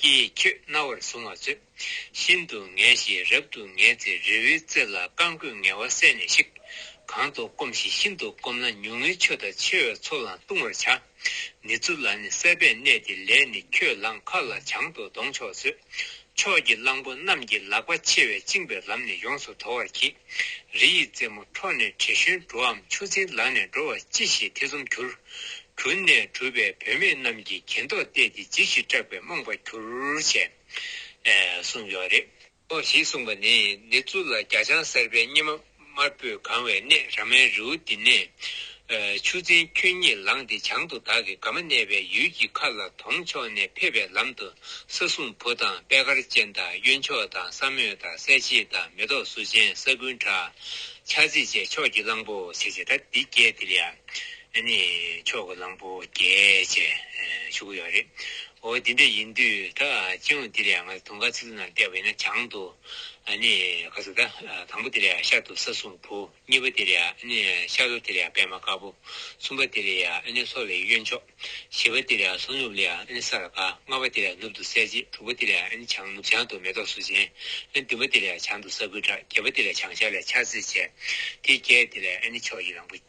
ཀྱེ་ཁྱོད་རྣ་བར་བཟུང་བ་ཚོས། ཤིན་ཏུ་ངལ་ཞིང་རབ་ཏུ་ངལ་ཚེ་རི་བོའི་རྩེ་ལ་རྐང་བསྐོས་ངལ་བ་བསལ་ནས་ཤིག། གང་དུ་སྐོམ་ཞིང་ཤིན་ཏུ་སྐོམ་ན་ཉུང་ངུའི་ཆུ་དང་ཆེ་བའི་མཚོ་ལའང་ལྟུང་བར་བྱ། ནི་ཚུར་ལ་ནི་སྲེད་པས་གནས་དེ་ལས་ནི་ཁྱོད་ལང་ཁ་ལ་བྱང་དུ་འདོང་ཆོག་ཚོས། ཕྱོགས་ཀྱི་གླང་པོ་རྣམས་ཀྱི་ལག་པ་མཆེ་བས་བཅིངས་པའི་ལམ་ནི་ཡོངས་སུ་དོར་བར་གྱིས། རི་ཡི་རྩེ་མོ་འཕྲོག་ནས་དྲི་བཞོན་འགྲོའམ་ཆུ་འཛིན་ལག་ནས་འགྲོ་བ་ཅི་ཞིག་ཐེ་ཚོམ་གྱུར། གུར་ནས་གྲུབ་པའི་བུད་མེད་རྣམས་ཀྱིས་གྱེན་ཐོག་བལྟས་ཏེ་འཇིགས་ཤིང་སྐྲག་པའི་རྨོངས་པ་གྱུར་ཅེས་གསུངས་ཡོད་རེད། ཨོ་ཞེས་གསུངས་པ་ནི་ནི་ཙུ་ལ་རྒྱ་ལྕང་གསར་པའི་སྙེ་མ་དམར་པོས་གང་བའི་གནས་ར་མའི་རེའུ་འདི་ནས། ཆུ་ཚན་ཁྱོད་གཉིས་ལངས་ཏེ་བྱང་དུ་བདག་གི་དགའ་མ་གནས་པའི་ཡུལ་གྱི་མཁའ་ལ་དོང་ཕྱོགས་ནས་ཕེབས་པའི་ལམ་དུ་ས་སྲུང་བུ་དང་པད་དཀར་ཅན་དང་གཡོན་ཕྱོགས་དང་ས་མོད་དང་གསལ་བྱེད་དང་མེ་ཏོག་གཟུགས་ཅན་ས་ཀུན་བྲག། ཆགས་འཛེག་བཅས་ཕྱོགས་ཀྱི་གླང་པོ་ཞེས་བྱ་ད་འདི་བརྒྱད་དེ་ལས། ཨེ་ནི། མཆོག་གི་གླང་པོ་རྒྱལ། ཅེས་ཞུ་གི་ཡོད་རེད། འོ་དེ་འདྲ་ཡིན་དུས་ད་སྤྱི་ཡོངས་དེ་ལས་ང་ཚོ་དུང་དཀར་ཚིག་ལུ་ནང་བསྡད་པ་ཡིན་ན་བྱང་དུ། ཨེ་ནི། ག་ཟེ་ད། དང་པོ་དེ་ལས་ཤར་དུ་ས་སྲུང་བུ། གཉིས་པ་དེ་ལས་ཨེ་ནི། ཤར་ལྷོ་དེ་ལས་པད་མ་དཀར་པོ། གསུམ་པ་དེ་ལས་ཨེ་ནི་སོག་ལེའི་གཡོན་ཕྱོགས། བཞི་པ་དེ་ལས་སོག་ནུབ་ལས་ཨེ་ནི་ས་ར་དཀར། ལྔ་པ་དེ་ལས་ནུབ་ཏུ་གསལ་བྱེད་དྲུག་པ་དེ་ལས་ཨེ་ནི་བྱང་ནུབ་བྱང་དུ་མེ་ཏོག་གསུར་ཅན། ཨེ་ནི་བདུན་པ་དེ་ལས་བྱང་དུ་ས་ཁུལ་བྲག་བརྒྱད་པ་དེ་ལས་བྱང་ཤར་ལས་ཆར་རྩི་བྱེད། དེ་བརྒྱད་དེ་ལས་ཨེ་ནི་མཆོག་གི་གླང་པོ།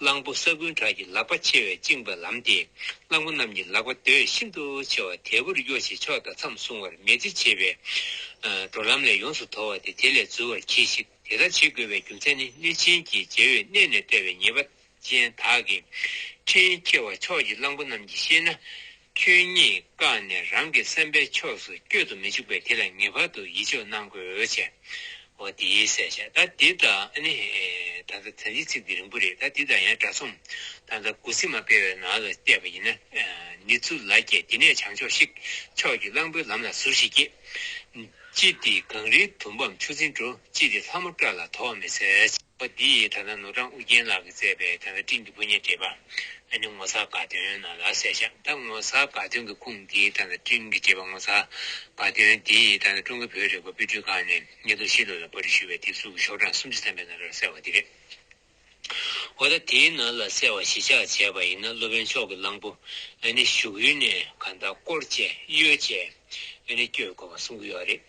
གླང་པོ་ས་རྐུན་དག་གི་ལག་པ་ཆེ་བས་བཅིངས་པ་ལམ་སྟེ་གླང་པོ་རྣམས་ཀྱི་ལག་པ་རྡོས་ཤིན་ཏུ་ཆེ་བ་དལ་བུར་གཡོ་ཞིང་ཕྱོགས་དང་མཚམས་སྲུང་བར་མེད་ཚེ་བྱེད་པའི་འགྲོ་ལམ་ལས་ཡོངས་སུ་དོར་བ་སྟེ་དེ་ལས་འཛུལ་བར་གྱིས་ཤིག་དེ་ལྟར་བྱེད་དགོས་པའི་རྒྱུ་མཚན་ནི་གནོད་སྦྱིན་གྱི་རྗེ་བོས་གནས་ནས་བསྟོད་པའི་ཉེས་པ་ཅན་དག་གི་འཕྲིན་ཁྱེར་བ་ཕྱོགས་ཀྱི་གླང་པོ་རྣམས་ཀྱིས་ཤེས་ན། ཁྱོད་ཉིད་བཀག་ནས་རང་གི་སེམས་པའི་ཕྱོགས་སུ་བསྐྱོད་དུ་མི་འཇུག་པས་དེ་ལ་ངེས་པར་དུ་ཡིད་འཇོག་གནང་དགོས་ཆེ། འོ་དེའི་གསལ་བྱ་ད་འདི་ད་ནི། ད་ལྟ་དོན་གྱི་ཚིག་འདི་རིང་པོ་རེད་ད་འདི་ད་ཡང་དྲ་ཚོམ་ད་ལྟ་དགུ་ཚིགས་མ་སྤེལ་བའི་ནང་ལ་བལྟས་པ་ཡིན་ན། ནི་ཙུ་ལ་ཀྱེ་འདི་ནས་བྱང་ཕྱོགས་ཤིག། ཕྱོགས་ཀྱི་གླང་པོའི་ལམ་ལ་ཟུར་ཞིག་ཀྱེ། ཅི་སྟེ་གངས་རིའི་དུམ་བམ་ཆུ་འཛིན་སྤྲོ། ཅི་སྟེ་ལྷ་མོ་བཀྲ་ལ་དོགས་མི་འཚལ། པ་འདི་ཡིས་ད་ལྟ་ནོར་བྲང་ཨུ་རྒྱན་ལགས་ཀྱིས་བསྩལ་པའི་ད་ལྟ་བཀྲིས་འདི་བུ་སྙན་བརྒྱད་པ་ཨ་ནེ་ངོ་མཚར་དགའ་སྟོན་ནང་ལ་གསལ་བཞག་ད་ངོ་མཚར་དགའ་སྟོན་གྱི་ཁུངས་འདི་ད་ལྟ་བཀྲིས་བརྒྱད་པ་ངོ་མཚར་དགའ་སྟོན་འདི་ཡིས་ད་ལྟ་ཀྲུང་གོའི་བོད་རིག་པ་དཔེ་སྐྲུན་ཁང་ནས་ཉིས་སྟོང་བཞི་ལོ་ལ་པར་རིས་ཞུས་པའི་དེབ་གཟུགས་ཀྱི་ཤོག་གྲངས་སུམ་ཅུ་ཐམ་པའི་ནང་ལ་གསལ་བ་འདི་རེད། འོ་ད་དེའི་ནང་ལ་གསལ་བ་གཞི་ཆགས་བྱས་པ་ཡིན་ན་སློབ་དཔོན་མཆོག་གི་གླང་པོ་ཨ་ནེ་བཞུགས་ཡུལ་ནས་གང་དག་བསྐོར་བཅས་གཡོལ་བཅས་ཨ་ནེ་བསྐྱོད་དགོས་པ་གསུང་གི་ཡོད་རེད།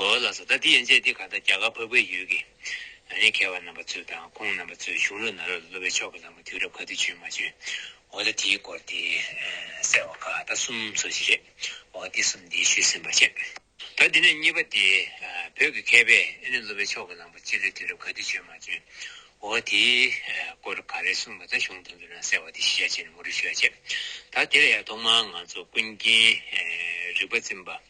ཨོ་ལགས་སོ་ད་དེ་ཡན་ཆད་དེ་ག་ད་རྒྱ་གར་བོད་པའི་ཡུལ་གྱི་རང་རེའི་མཁས་པ་རྣམ་པ་ཚོས་དང་ཁོང་རྣམ་པ་ཚོས་གཞུང་ལུགས་ནང་རོལ་ལ་སློབ་པའི་ཕྱོགས་ཀྱི་ལམ་གྱི་དུས་རབས་ག་དུས་བྱོན་མ་བྱོན་ཨོ་ད་དེའི་སྐོར་དེ་གསལ་བ་ག་ད་གསུམ་སོ་ཞིག་རེད་ཨོ་དེ་གསུམ་དེ་ཤུལ་ཟིན་པ་བྱས། ད་དེ་ནས་གཉིས་པ་དེ་བོད་ཀྱི་མཁས་པས་ཨེ་ནི་སློབ་པའི་ཕྱོགས་ཀྱི་ལམ་གྱི་སྤྱི་ལོའི་དུས་རབས་ག་དུས་བྱོན་མ་བྱོན་ཨོ་དེའི་སྐོར་ག་རེ་གསུངས་པ་ད་གཞུང་དོན་དུ་རང་གསལ་བ་དེ་ཤེས་བྱ་བྱས་ནས་མུ་རུ་ཤོད་བྱས། ད་དེ་ལ་ཡང་ཐོག་མར་ང་ཚོ་ཀུན་མཁྱེན་རིག་པ་འཛིན་པ།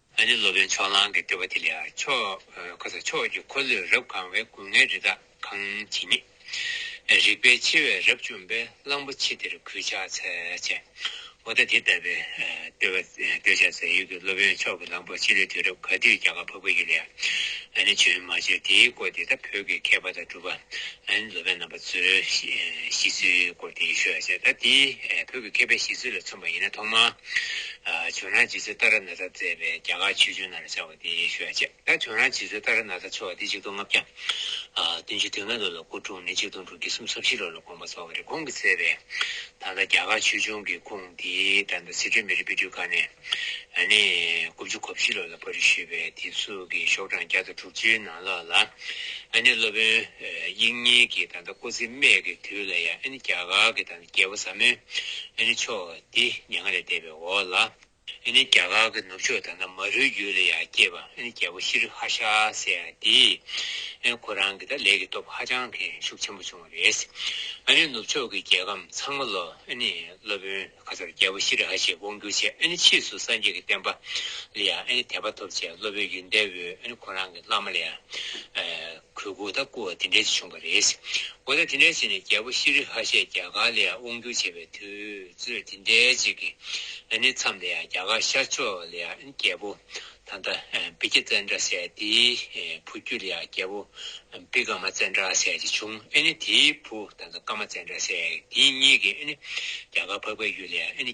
ཨ་ནི་སློབ་དཔོན་ཕྱོགས་གླང་གི་སྤྲུལ་པ་དེ་ལ་ཕྱོགས་ཕྱོགས་ཀྱི་འཁོར་ལོས་རབ་གང་བའི་སྐུ་ལྔའི་རི་དྭགས་གང་ཇི་སྙེད། རིག་པའི་མཆེ་བས་རབ་བཅོམ་པའི་གླང་པོ་ཆེ་དེར་གུས་ཕྱག་འཚལ་བྱས། འོ་ད་དེ་ལྟ་བུའི་སྤྲུལ་པ་སྟོད་ཆ་ཟ་ཡུལ་གྱི་སློབ་དཔོན་ཕྱོགས་ཀྱི་གླང་པོ་ཆེ་ལུས་དུས་རབས་ག་དུས་རྒྱ་གར་ཕ་བུ་ཡིད་ལ་ཡ། ཨ་ནི་བྱོན་མ་བྱོན་དེའི་སྐོར་དེ་ད་བོད་ཀྱི་མཁས་པ་དང་སྒྲུབ་པ་ཨ་ནི་སློབ་དཔོན་རྣམ་པ་ཚོའི་ཤི་ཚུལ་སྐོར་དེའི་ཤོད་བྱས་ད་དེ་བོད་ཀྱི་མཁས་པའི་ཤི་ཚུལ་ལ་མཚོན་པ་ཡིན་ན་ཐོག་མར། ཁྱོད་རང་རྗེ་བཙུན་ཏཱ་ར་ནཱ་ཐར་བཙས་པའི་རྒྱ་གར་ཆོས་འབྱུང་ནང་ལ་བཞག་པ་དེ་ཡེ་ཤུ་ཡ་ཅེ། ད་ཁྱོད་རང་རྗེ་བཙུན་ཏཱ་ར་ནཱ་ཐར་ཆོ་བ་དེ་གཅིག་སྟོང་ལྔ་བརྒྱ། བདུན་བཅུ་དོན་ལྔ་ལོ་ལ་སྐུ་འཁྲུངས་ནས་གཅིག་སྟོང་དྲུག་བརྒྱ་སུམ་ཚོ་བཞི་ལོ་ལ་དགོངས་པ་རྫོགས་པ་རེད་ཁོང་གིས་བཙས་པའི་ད་ལྟ་རྒྱ་གར་ཆོས་འབྱུང་གི་ཁུངས་དེ་ད་ལྟ་སི་ཁྲོན་མེ་རི་དཔེ་སྐྲུན་ཁང་ནས་ནས་དགུ་བཅུ་གོ་བཞི་ལོ་ལ་པར་རིས་ཞུས་པའི་དེ་གཟུགས་ཀྱི་ཤོག་གྲངས་བརྒྱ་དང་དྲུག་ཅུའི་ནང་ལོགས་ལ་ཨ་ནི་སློབ་དཔོན་དབྱིག་གཉེན་གྱིས་ད་ལྟ་སྐུ་ཚེ་སྨད་ཀྱི་དུས་ལ་ཡང་ཨ་ནི་རྒྱ་གར་གྱི་ད་ལྟ་རྒྱལ་པོ་ཟབ་མོའི་ཨ་ནི་ཆོས་འདི་ཉེ་སྔ་ལས་བལྟས་པའི་འོག་ལ། རྒྱ་གར་གྱི་ནུབ་ཕྱོགས་དང་ན་མ་རུའི་རྒྱུད་ལ་ཡང་སྐྱེས་པ་རྒྱལ་པོ་ཤྲཱི་རི་ཧ་ཤ་སེ་ཡ་འདིས། ཁོ་རང་གི་ལས་ཀྱི་སྟོབས་ཧ་ཅང་གི་ཤུགས་ཆེན་པོ་བྱུང་བ་རེད། ནུབ་ཕྱོགས་ཀྱི་རྒྱལ་ཁམས་ཚང་མ་ལོ། སློབ་དཔོན་ཁ་སར་རྒྱལ་པོ་ཤྲི་རི་ཧ་ཤས་དབང་བསྒྱུར་བྱས་ཕྱིས་སུ་སངས་རྒྱས་ཀྱི་བསྟན་པ་ལ་ཡང་དད་པ་ཐོབ་ཅེས་སློབ་དཔོན་ཡུལ་འདས་པོས་ཁོ་རང་གི་བླ་མ་ལ་ཡང། གོས་སྐུ་དང་སྐུ་བ་དེ་འདྲའི་ཚེ་བྱུང་བ་རེད། འོ་ན་དེ་འདྲའི་ཚེ་ནི་རྒྱལ་པོ་ཤི་རི་ཧ་ཤས་རྒྱ་གར་ལ་ཡང་དབང་བསྒྱུར་བྱས་པའི་དུས་ཚོད་དེ་འདྲའི་ཅིག་གི་ཨ་ནི་མཚམས་ལ་ཡང་རྒྱ་གར་ཤར་ཕྱོགས་ལ་ཡང་རྒྱལ་པོ་ཐ་མདའ་བི་ཀྱ་ཙན་དྲ་སེ་དེའི་བུ་རྒྱུད་ལ་ཡང་རྒྱལ་པོ་བི་ཀ་མ་ཙན་དྲ་སེ་ཅིག་བྱུང་ཨ་ནི་དེའི་བུ་ཐ་མདའ་ཀ་མ་ཙན་དྲ་སེ་དེ་གཉིས་ཀྱིས་ཨ་ནི་རྒྱ་གར་འཕགས་པའི་ཡུལ་ལ་ཡང་ཨ་ནི།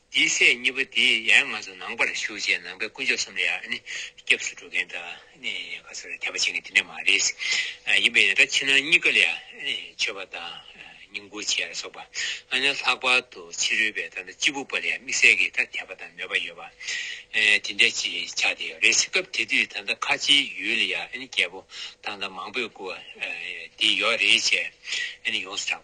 དེའི་སྲས་གཉིས་པོ་དེ་ཡང་ང་ཚོ་ནང་པར་ཞུགས་རྗེས་ནང་པའི་དཀོན་མཆོག་གསུམ་ལ་ཡང་སྐྱབས་སུ་འགྲོ་མཁན་དང་ག་ཚོད་ལ་དད་པ་བྱེད་མཁན་དེ་འདྲ་མ་རེད། ཡིན་པས་ཡང་དག་ཕྱི་ནང་གཉིས་ཀ་ལ་མཆོད་པ་དང་སྙིང་བོ་བྱེད་ལ་སོགས་པ་ཨ་ནེ་ལྷག་པར་དུ་ཕྱི་རོལ་པའི་ད་ལྟ་སྤྱིལ་བུ་པ་ལ་ཡང་དམིགས་བསལ་གྱི་ཐ་དད་པ་དང་མོས་པ་ཡོད་པ་དེ་འདྲ་ཅིག་ཆགས་བསྡད་ཡོད་རེད། སྐབས་དེ་དུས་ད་ལྟ་ཁ་ཆེའི་ཡུལ་ལ་ཡང་རྒྱལ་པོ་དང་ད་མང་པོས་བཀུར་བ་དེ་ཡོད་རེད་ཅེས་ཡོངས་སུ་གྲགས།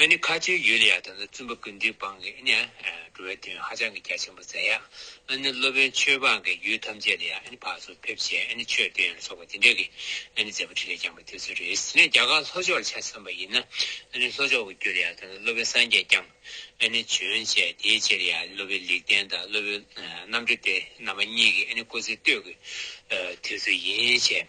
ཨ་ནི་ཁ་ཆེའི་ཡུལ་ལ་ཡག་དང་ལ་བཙུན་པ་ཀུན་འདུས་སྤང་གི་ཨ་ནི་འགྲོ་བའི་དོན་ཧ་ཅང་གི་རྒྱ་ཆེན་པོ་མཛད་ཡག་ཨ་ནི་སློབ་དཔོན་ཆོས་འབངས་ཀྱི་ཡུལ་ཐམས་ཅད་ལ་ཡག་ཨ་ནི་ཕག་ཚོགས་ཕེབས་བྱེད་ཨ་ནི་ཆོས་སྟོན་ཡང་ལ་སོགས་པ་འདི་འདྲ་གི་ཨ་ནི་མཛད་པ་ཁྲི་ལས་བསྐྱངས་པ་དེ་ཚོ་རེད་ཟེར་ནས་རྒྱ་གར་ལྷོ་ཕྱོགས་ལ་ཆ་མཚོན་པ་ཡིན་ན་ཨ་ནི་ལྷོ་ཕྱོགས་ཀྱི་རྒྱུ་ལ་ཡག་དང་ལ་སློབ་དཔོན་སངས་རྒྱས་བསྐྱངས་ཨ་ནི་བྱོན་བྱས་དེའི་རྗེས་ལ་ཡག་ཨ་ནི་སློབ་དཔོན་ལེགས་ལྡན་དང་སློབ་དཔོན་རྣམ་གྲོལ་སྟེ་རྣམ་པ་གཉིས་ཀྱི་ཨ་ནི་སྐུ་ཚེ་སྟོད་ཀྱི་དུས་ཚོད་ཡིན་བྱས།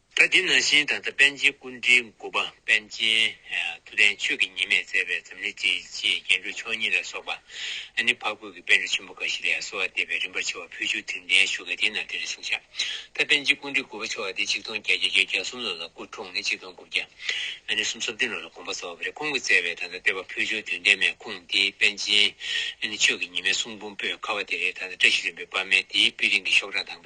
ད་འདི་ན་བཞིན་ད་ལྟ་པཎ་ཆེན་ཀུན་དྲིལ་མགུར་པ་པཎ་ཆེན་ཐུབ་བསྟན་ཆོས་ཀྱི་ཉི་མས་མཛད་པའི་འཛམ་གླིང་སྤྱིའི་ཆེས་རྒྱན་སྤྲུལ་མཆོག་གཉིས་ལ་སོགས་པ་ཨ་ནི་འཕགས་བོད་ཀྱི་དཔོན་རིགས་ཆེན་པོ་འགའ་ཞིག་ལས་གསོལ་བ་འདེབས་པའི་རིམ་པར་ཕྱེ་བ་ཕུལ་བྱུང་དེབ་འདི་ཡན་ཞུ་ག་དེའི་ནང་དེ་རེ་ཟུང་བཞག་ད་པན་ཆེན་ཀུན་དྲིལ་མགུར་པ་ཆེ་བ་འདི་ཆིག་སྟོང་བརྒྱད་བརྒྱ་བརྒྱད་བརྒྱ་གསུམ་ལོ་ལ་སྐུ་འཁྲུངས་ནས་ཆིག་སྟོང་དགུ་བརྒྱ་ཨ་ནི་གསུམ་སོ་བདུན་ལོ་ལ་དགོངས་པ་བསྩལ་བ་པོ་རེ་ཁོང་གིས་བསྩལ་བའི་ད་ལྟ་བསྟོད་པ་ཕུལ་བྱུང་དོན་ལྡན་མའི་ཁུངས་དེ་པན་ཆེན་ཨ་ནི་ཆོས་ཀྱི་ཉི་མའི་གསུང་འབུམ་པོད་ཁ་བ་དེ་རེད་ད་ལྟ་བཀྲ་ཤིས་རིན་པོའི་པདྨའི་དེའི་དཔེ་རིང་གི་ཤོག་གྲངས་དང།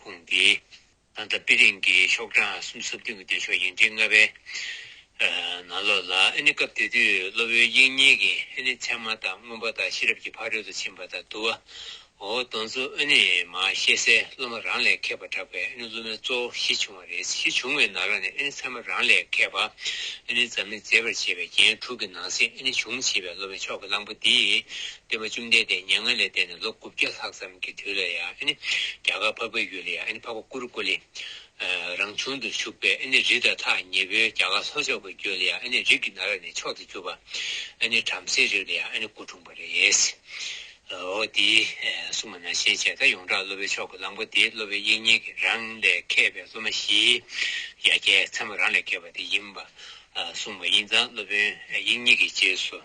ཁོང་གིས། ད་ལྟ་པི་ལིང་གི་ཤོག་གྲངས་གསུམ་གསོ་སྐྱོང་གི་འདོད་ཕྱོགས་ཡིན་ཁྲི་ལྔ་པའི་ནང་ལོགས་ལ་ཨ་ནི་སྐབས་དེ་དུས་གློ་བོའི་དབྱིངས་ཉིད་ཀྱི་ཨ་ནི་མཚན་མ་དང་མངོན་པ་དང་ཤེས་རབ་ཀྱི་ཕ་རོལ་ཏུ་ཕྱིན་པ་དང་དུ་བ་འོ་དོན་གཙོ་ཨ་ནི་མ་ཤེས་སའི་སློབ་མ་རང་ལས་མཁས་པར་གྲགས་པའི་ཨ་ནི་སློབ་མའི་གཙོ་བོ་ཞི་བྱུང་བ་རེད་ཞི་བྱུང་བའི་ནང་ལ་ནི་ཨ་ནི་མཚན་མ་རང་ལས་མཁས་པ་ཨ་ནི་འཛམ་གླིང་མཛེས་པར་བྱེད་པའི་རྒྱན་དྲུག་གི་ནང་གསེས་ཨ་ནི་བྱུང་བྱེད་པའི་སློབ་མའི་མཆོག་གི་གླང་པོ་འདི་བསྟན་པ་བཅོམ་ལྡན་འདས་མྱ་ངན་ལས་འདས་ནས་ལོ་དགུ་བརྒྱ་ལྷག་ཙམ་གྱི་དུས་ལ་ཡང་རྒྱ་གར་འཕགས་པའི་ཡུལ་ལ་ཡང་འཕགས་པ་ཀུ་རུ་ཀུ་ལི་རང་བྱུང་དུ་བཞུགས་པས་རི་དང་ཐག་ཉེ་བོའི་རྒྱ་གར་ལྷོ་ཕྱོགས་ཀྱི་རྒྱུད་ལ་ཡང་རིགས་ཀྱི་ན་ར་ནས་མཆོག་ཏུ་གྱུར་པ། བྲམ་ཟེའི་རིགས་ལ་ཡང་སྐུ་འཁྲུངས་པ་རེད། འོ་དེའི་སྲུང་མ་ན་ཤན་ཆད་ད་ཡོངས་གྲགས་སློབ་པའི་ཕྱོགས་ཀྱི་གླང་པོ་དེ་སློབ་པའི་དབྱིག་གཉེན་གྱི་རང་ལས་མཁས་པའི་སློབ་མ་བཞིའི་ཡ་གྱལ་ཚད་མ་རང་ལས་བརྒལ་བ་དེ་ཡིན་པར་གསུངས་པ་ཡིན་ཙང་སློབ་དཔོན་དབྱིག་གཉེན་གྱི་རྗེས་སུ།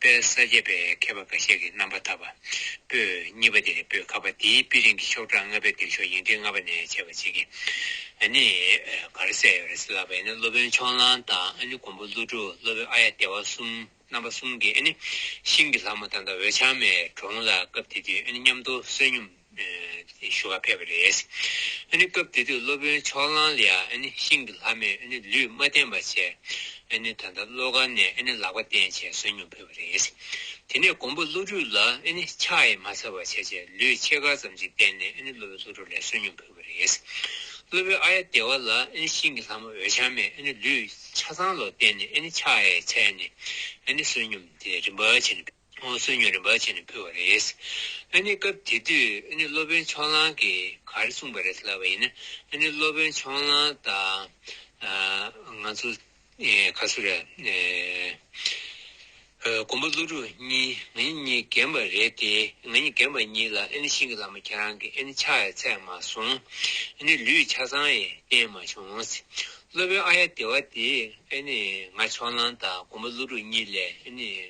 དཔལ་ས་སྐྱ་པའི་མཁས་པ་འགའ་ཤས་ཀྱིས་རྣམ་པ་ཐར་པ་པོས་གཉིས་པ་དེ་ནི་པོད་ཁ་པ་དེའི་དཔེ་རིང་གི་ཤོག་གྲངས་ལྔ་པའི་འདེགས་ཤོག་ཡིག་འབྲི་ལྔ་པ་ནས་འཆད་པར་བྱེད་ཀྱིན་ནི་ག་རེ་གསལ་ཡོད་རེད་ཟེར་ལབ་པ་ཡིན་ན་སློབ་དཔོན་མཆོག་གླང་དང་ནི་མགོན་པོ་ཀླུ་སྒྲུབ་སློབ་དཔོན་ཨ་ཡ་སྟེ་བ་གསུམ་རྣམ་པ་གསུམ་གྱིས་ནི་ཤིང་གི་ལྷ་མོ་དང་འདྲ་བའི་འོད་ཆང་མའི་གྲོང་ལ་སྐབས་དེ་དུས་ནི་མཉམ་དུ་བསོད་སྙོམས། ཞུ་བ་ཕེབས་པ་རེད། སྐབས་དེ་དུས་སློབ་དཔོན་ཕྱོགས་གླང་ལི་ཡ་ཤིང་གི་ལྷ་མོས་ལུས་མ་བསྟེན་པར་བྱས། ད་ལྟ་བློ་གར་ནས་ལག་པ་བསྟན་བྱས་གསོན་ཉུང་ཕེབས་པ་རེད། དེ་ནས་ཀོང་པོ་ཀླུ་སྒྲུབ་ལ་ཕྱག་ཡས་མ་ཚར་བར་བྱས་རྗེས་ལུས་ཕྱེད་ཀ་ཙམ་ཞིག་བསྟེན་ནས་སློབ་དཔོན་ཀླུ་སྒྲུབ་ལས་གསོན་ཉུང་ཕེབས་པ་རེད། སློབ་དཔོན་ཨ་ཡ་སྡེ་བ་ལ་ཤིང་གི་ལྷ་མོ་འོད་འཆང་མས་ལུས་ཕྱག་ཚང་ལོག་བསྟེན་ནས་ཕྱག་ཡས་ཚལ་ནས་གསོན་ཉུང་རིམ་པར་བྱས་ནས་ཕེབས། ཨོ་གསོལ་ཉོན་རེ་འབའ་བྱས་ནས་ཕུལ་བ་རེད། ཨ་ནི་སྐབས་དེ་དུས་ཨ་ནི་སློབ་དཔོན་ཕྱོགས་གླང་གིས་ག་རེ་གསུངས་པ་རེད་ལབ་པ་ཡིན་ན་ཨ་ནི་སློབ་དཔོན་ཕྱོགས་གླང་དང། ང་ཚོ། ཁ་སུ་ར། མགོན་པོ་ཀླུ་སྒྲུབ་གཉིས་ང་གཉིས་གཉིས་རྒན་པ་རེད་དེ་ང་གཉིས་རྒན་པ་གཉིས་ལ་ཨ་ནི་ཤིང་གི་བླ་མ་ཁྱེད་རང་གིས་ཨ་ནི་ཕྱག་ཡ་ཚད་མ་སོང། ཨ་ནི་ལུས་ཆ་ཚང་ཡས་བསྟན་མ་བྱུང། སློབ་དཔོན་ཨ་ཡ་དེ་བ་དེས་ཨ་ནི་ང་ཕྱོགས་གླང་དང་མགོན་པོ་ཀླུ་སྒྲུབ་གཉིས་ལས་ཨ་ནི།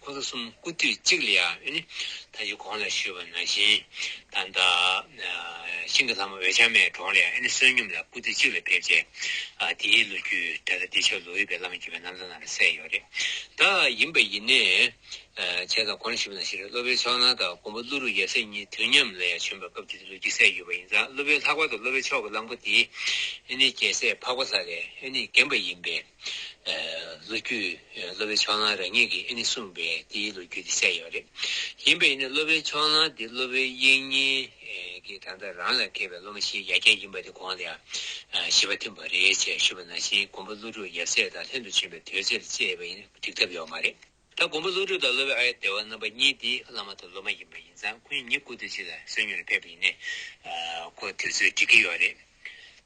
ཁོ་ཚོ་གསུམ་སྐུ་དུས་གཅིག་ལ་ཡང་ནི་ད་ཅི་གོང་ལ་ཞུས་པ་ནང་བཞིན་ད་ལྟ། ཤིང་གི་ལྷ་མོ་འོད་ཆགས་མའི་གྲོང་ལ་ཡང་ནི་བསོད་སྙོམས་ལ་སྐུ་དུས་གཅིག་ལ་ཕེབས་རྗེས། དེའི་ལོ་རྒྱུས་གྲྭ་ས་འདི་ཆོས་ལོ་དབུས་པའི་བླ་མ་བརྒྱུད་པའི་རྣམ་ཐར་ནང་ལ་གསལ་ཡོད་རེད་ད། ཡིན་པ་ཡིན་ནས། བྱས་ཙང་གོང་ལ་ཞུས་པ་ནང་བཞིན་རེད་བློ་དཔལ་ཕྱོགས་ནང་དང་དགོངས་པ་ཀླུ་རུ་ཡབ་སྲས་གཉིས་དུས་མཉམ་ལ་ཡང་བྱོན་པའི་སྐབས་དེ་དུས་ལོ་རྒྱུས་གསལ་ཡོད་པ་ཡིན་ཙང་བློ་དཔལ་ལྷག་པ་དང་བློ་དཔལ་ཕྱོགས་ཀྱི་གླང་པོ་དེ། ནི་རྒྱལ་སྲས་འཕགས་པ་ལྷ་ལས་ནི་རྒན་པ་ཡིན་པས། ལོ་རྒྱུས་སློབ་པའི་ཕྱོགས་ལྷང་རེ་ངེས་ཀྱིས་ཨེ་ནི་གསུངས་པས་དེའི་ལོ་རྒྱུས་དེ་གསལ་ཡོད་རེད། ཡིན་པས་ནི་སློབ་པའི་ཕྱོགས་ལྷང་དེ་སློབ་པའི་དབྱིག་གཉེན་གྱིས་ད་ལྟ་རང་ལ་མཁས་པའི་སློབ་མ་ཞིག་ཡར་རྒྱས་ཡིན་པ་དེ་གོང་ལ་ཞི་བ་ཐིམ་པ་རེད་ཅེས་ཞུས་པ་ན་ཞིག་མགོན་པོ་ཀླུ་སྒྲུབ་ཡབ་སྲས་དང་ལྷན་དུ་ཕྱིན་པའི་དུས་ཚེ་ལ་དཔྱད་པས་ཡིན་འགྲིག་ཐབས་ཡོད་མ་རེད། ད་མགོན་པོ་ཀླུ་སྒྲུབ་དང་སློབ་པའི་ཨ་ཡེ་སྡེ་བ་རྣམ་པ་གཉིས་དེ་བླ་མ་དང་སློབ་མ་ཡིན་པ་ཡིན་ཙང་ཁོ་གཉིས་གཉིས་སྐུ་དུས་གཅིག་ལ་གསོན་ཉུལ་ལ་ཕེབས་པ་ཡིན་ནས་ཁོ་དུས་ཚོད་འགྲིག་གི་ཡོད་རེད།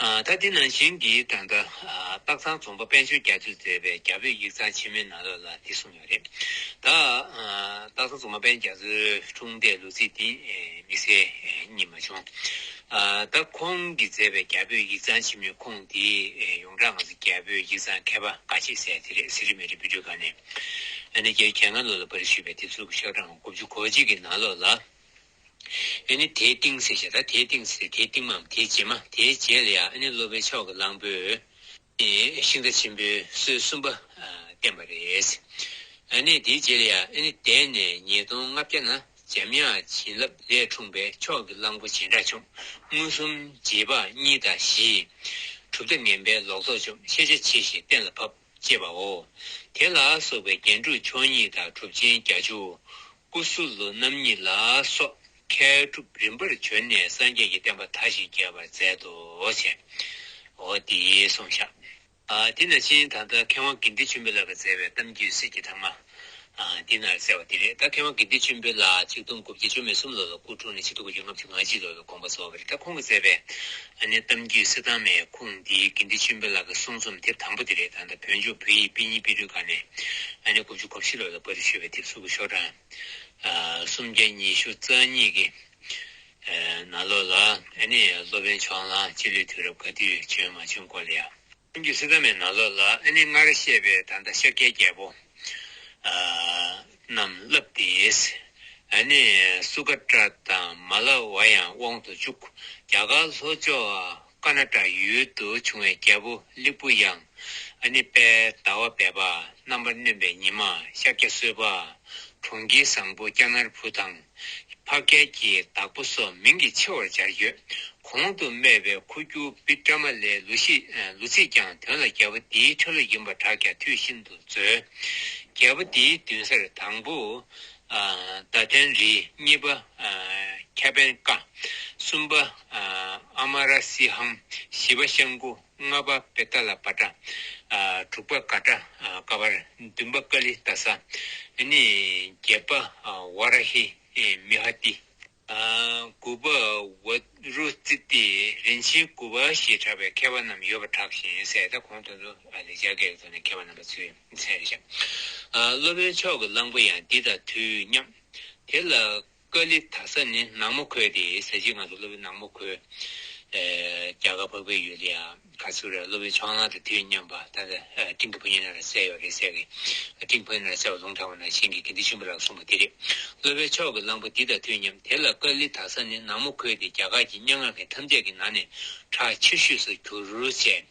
ད་ལྟའི་ནང་བཞིན་གྱི་ད་ལྟ། སྟག་ཚང་རྫོང་པ་དཔལ་འབྱོར་རྒྱ་མཚོས་མཛད་པའི་རྒྱ་བོད་ཡིག་ཚང་ཆེན་མོའི་ནང་ལོགས་ལ་འདི་གསུངས་ཡོད་རེད། ད། སྟག་ཚང་རྫོང་པ་དཔལ་རྒྱ་མཚོའི་འཁྲུངས་འདས་ལོ་ཚིགས་འདི་དམིགས་བསལ་རྙེད་མ་བྱུང། ད་ཁོང་གིས་མཛད་པའི་རྒྱ་བོད་ཡིག་ཚང་ཆེན་མོའི་ཁུངས་འདི་ཡོངས་གྲགས་ང་ཚོ་རྒྱ་བོད་ཡིག་ཚང་མཁས་པ་འགའ་ཤས་གསལ་དེ་རེད་ཟེར་གྱི་མེད་རེད་བུ་ཕྲུག་ག་ནས། ཨ་ནེ་རྒྱལ་ཁྱེད་སྔ་ལོ་ལ་པར་ཞུས་པའི་དེབ་གཟུགས་ཀྱི་ཤག་གྲངས་དགུ་བཅུ་གོ་གཅིག་གི་ནང་ལོགས་ལ། ཨེ་ནི་དེའི་ཏིང་སེ་ཞེས་དང་དེའི་ཏིང་སེ་སྟེ་དེའི་ཏིང་མའམ་དེའི་རྗེས་མ་དེའི་རྗེས་ལ་ཡང་ཨེ་ནི་སློབ་པའི་མཆོག་གི་གླང་པོས་ཤིང་རྟ་ཆེན་པོའི་སྲོལ་གསུམ་པ་བསྟན་པ་རེད། ཨེ་ནི་དེའི་རྗེས་ལ་ཡང་ཨེ་ནི་འདས་ནས་ཉིས་སྟོང་ལྔ་བརྒྱ་ན་འཇམ་དབྱངས་བྱིན་རླབས་ལས་འཁྲུངས་པའི་མཆོག་གི་གླང་པོ་རྗེས་འབྲངས་བཅོམ་མངོན་སུམ་རྗེས་དཔག་གཉིས་དང་བཞིས། གྲུབ་མཐའ་ངན་པའི་ལོག་རྟོག་བཅོམ་ཤེས་རྒྱ་ཆེ་ཞིང་གཏན་ལ་ཕབ། ཅེས་པའོ། དེ་ལ་སོགས་པའི་རྒྱན་དྲུག་མཆོག་གཉིས་དང་གྲུབ་ཆེན་བརྒྱ་བཅུ། ཀུ་སུ་ལུ་རྣམ་གཉིས་ལ་སོགས་མཁས་གྲུབ་རིམ་པར་བྱོན་ནས་སངས་རྒྱས་ཀྱི་བསྟན་པ་མཐའ་བཞི་རྒྱས་པར་མཛད་དོ། ཞེའོ། དེའི་སོང་ཞག། དེ་ན་ཕྱིན་དང་ལྟར་མཁས་དབང་དགེ་འདུན་ཆེན་པོས་བསླབ་པར་མཛད་པའི་གཏམ་རྒྱུད་གསེར་གྱི་ཐང་མ། འདི་ན་གསལ་བ་འདི་རེད་ད་ཁེ་དབང་དགེ་འདུན་ཆེན་པོའི་ལ་གཅིག་སྟོང་དགུ་བརྒྱ་བཅོ་མེད་གསུམ་ལོ་ལ་སྐུ་འཁྲུངས་ནས་ཕྱི་དུ་དགུ་བཅུ་ལྔ་བཅུ་ང་གཅིག་ལོ་བའི་དགོངས་པ་བཟོ་བ་རེད་ད་ཁོང་གི་མཛད་པའི་ཨ་ནེ་གཏམ་རྒྱུད་གསེར་ཐང་མའི་ཁུངས་འདི་དགེ་འདུན་ཆེན་པོའི་ལ་གི་གསུང་རྩོམ་དེབ་དང་པོ་འདི་རེད་ད་ལྟ་བོད་ལྗོངས་བོད་ཡིག་དཔེ་རྙིང་དཔེ་སྐྲུན་ཁང་ནས་ཨ་ནེ་དགུ་བཅུ་གོ་བཞི་ལོ་ལ་པར་རིས་ཤོད་པའི་དེབ་གཟུགས་ཀྱི་ཤོག་གྲངས་སུམ་བརྒྱ་ཉི་ཤུ་རྩ་གཉིས་ཀྱི་ནང་ལོ་ལ་ཨ་ནེ་སློབ་དཔོན་མཆོག་གླང་སྤྱི་ལོའི་དུས་རབས་ག་དུས་བྱོན་མ་བྱོན་སྐོར་ལ་ཡང། སེམས་ཀྱི་སྲིད་ཐ་མའི་ནང་ལོགས་ལ་ཨ་ནི་སྔར་བཤད་པའི་ད་ལྟ་ཤཱཀྱའི་རྒྱལ་པོ་རྣམས་བསླབས་ཏེ། ཨ་ནི་སུ་ཀ་ཏྲ་དང་མ་ལ་བ་ཡང་དབང་དུ་བཅུག། རྒྱ་གར་ལྷོ་ཕྱོགས་ཀ་ན་ཀྲ་ཡུལ་དུ་བྱུང་བའི་རྒྱལ་པོ་ལིག་པུ་ཡང་ཨ་ནི་པད་ཟླ་བ་བས་པ་རྣམ་པར་གནོན་པའི་ཉི་མ་ཤཱཀྱ་གསོལ་བ། གྲོང་ཁྱེར་བཟང་པོ་ཀྱ་ནར་བུ་དང། ཕ་སྐད་ཀྱི་བདག་པོ་སོགས་མིང་གི་ཆེ་བར་སྦྱར་ཡོད། གོང་དུ་སྨྲས་པའི་ཁུ་རྒྱུ་བི་ཀྲ་མ་ལའི་ལུགས་ཤིག་ལུས་ཚིག་ཀྱང་དོན་ལ་རྒྱལ་པོ་འདིའི་ཁྲོད་ལ་ཡིན་པར་གྲགས་ཀྱང་དུས་ཤིན་ཏུ་རྩོལ། རྒྱལ་པོ་འདིའི་མདུན་སར་དང་པོ། ཟླ་ཐན་རི། གཉིས་པ། ཁྱ་བན་ཀ། གསུམ་པ། ཨ་མ་ར་སི་ཧམ། བཞི་པ། ཤང་ཀུ། ལྔ་པ་བེ་ཏཱ་ལ་བ་ཏྲ། དྲུག་པ་ཀ་ཏྲ་ཀ་བ། བདུན་པ་ཀ་ལི་ཏ་ས། བརྒྱད་པ་བ་ར་ཧི་མི་ཧ་ཏི། དགུ་པ་བ་རུ་ཙི་ཏི་རིན་ཆེན་དགུ་བ་ཞེས་གྲགས་པའི་མཁས་པ་རྣམས་ཡོད་པར་གྲགས་ཤིང་གསལ་ད་གོང་དོན་དུ་ལེགས་སྦྱར་སྐད་ཀྱི་ཐོག་ནས་མཁས་པ་རྣམ་པ་ཚུལ་མཚན་རེ་བཞག་སློབ་དཔོན་མཆོག་གི་གླང་པོ་ཡང་འདི་དང་དུས་མཉམ། དེ་ལ། ཀཱ་ལི་དྷ་ས་ནི་ནག་མོ་ཁོལ་ཏེ་ཟས་བཅད་ངང་དུ་གློ་བའི་ནག་མོ་ཁོལ། རྒྱ་གར་བག་པའི་ཡུལ་ལ་ཡང་ག་ཚོད་རེར་གློ་བའི་ཆང་ལང་དང་དུས་མཉམ་པ་ད་ལྟ་སྤྲིན་གྱི་ཕོ་ཉའི་ནང་ལ་གསལ་ཡོད་རེད་ཟེར་གི། སྤྲིན་ཕོ་ཉའི་ནང་གསལ་བ་ལུང་དྲང་བ་ན་གཞན་གྱིས་དགེ་འདུན་ཆེན་པོ་ལགས་གསུངས་པ་དེ་རེད། གློ་བའི་ཕྱོགས་ཀྱི་གླང་པོ་འདི་དང་དུས་མཉམ་དེ་ལ་ཀཱ་ལི་དྷ་ས་ནི་ནག་མོ་ཁོལ་ཏེ་རྒྱ་གར་གྱི་སྙན་ངག་མཁན་ཐམས་ཅད་ཀྱི་ནང་ནས་གྲགས་ཆེ་ཤོས་སུ་གྱུར་ཅེས།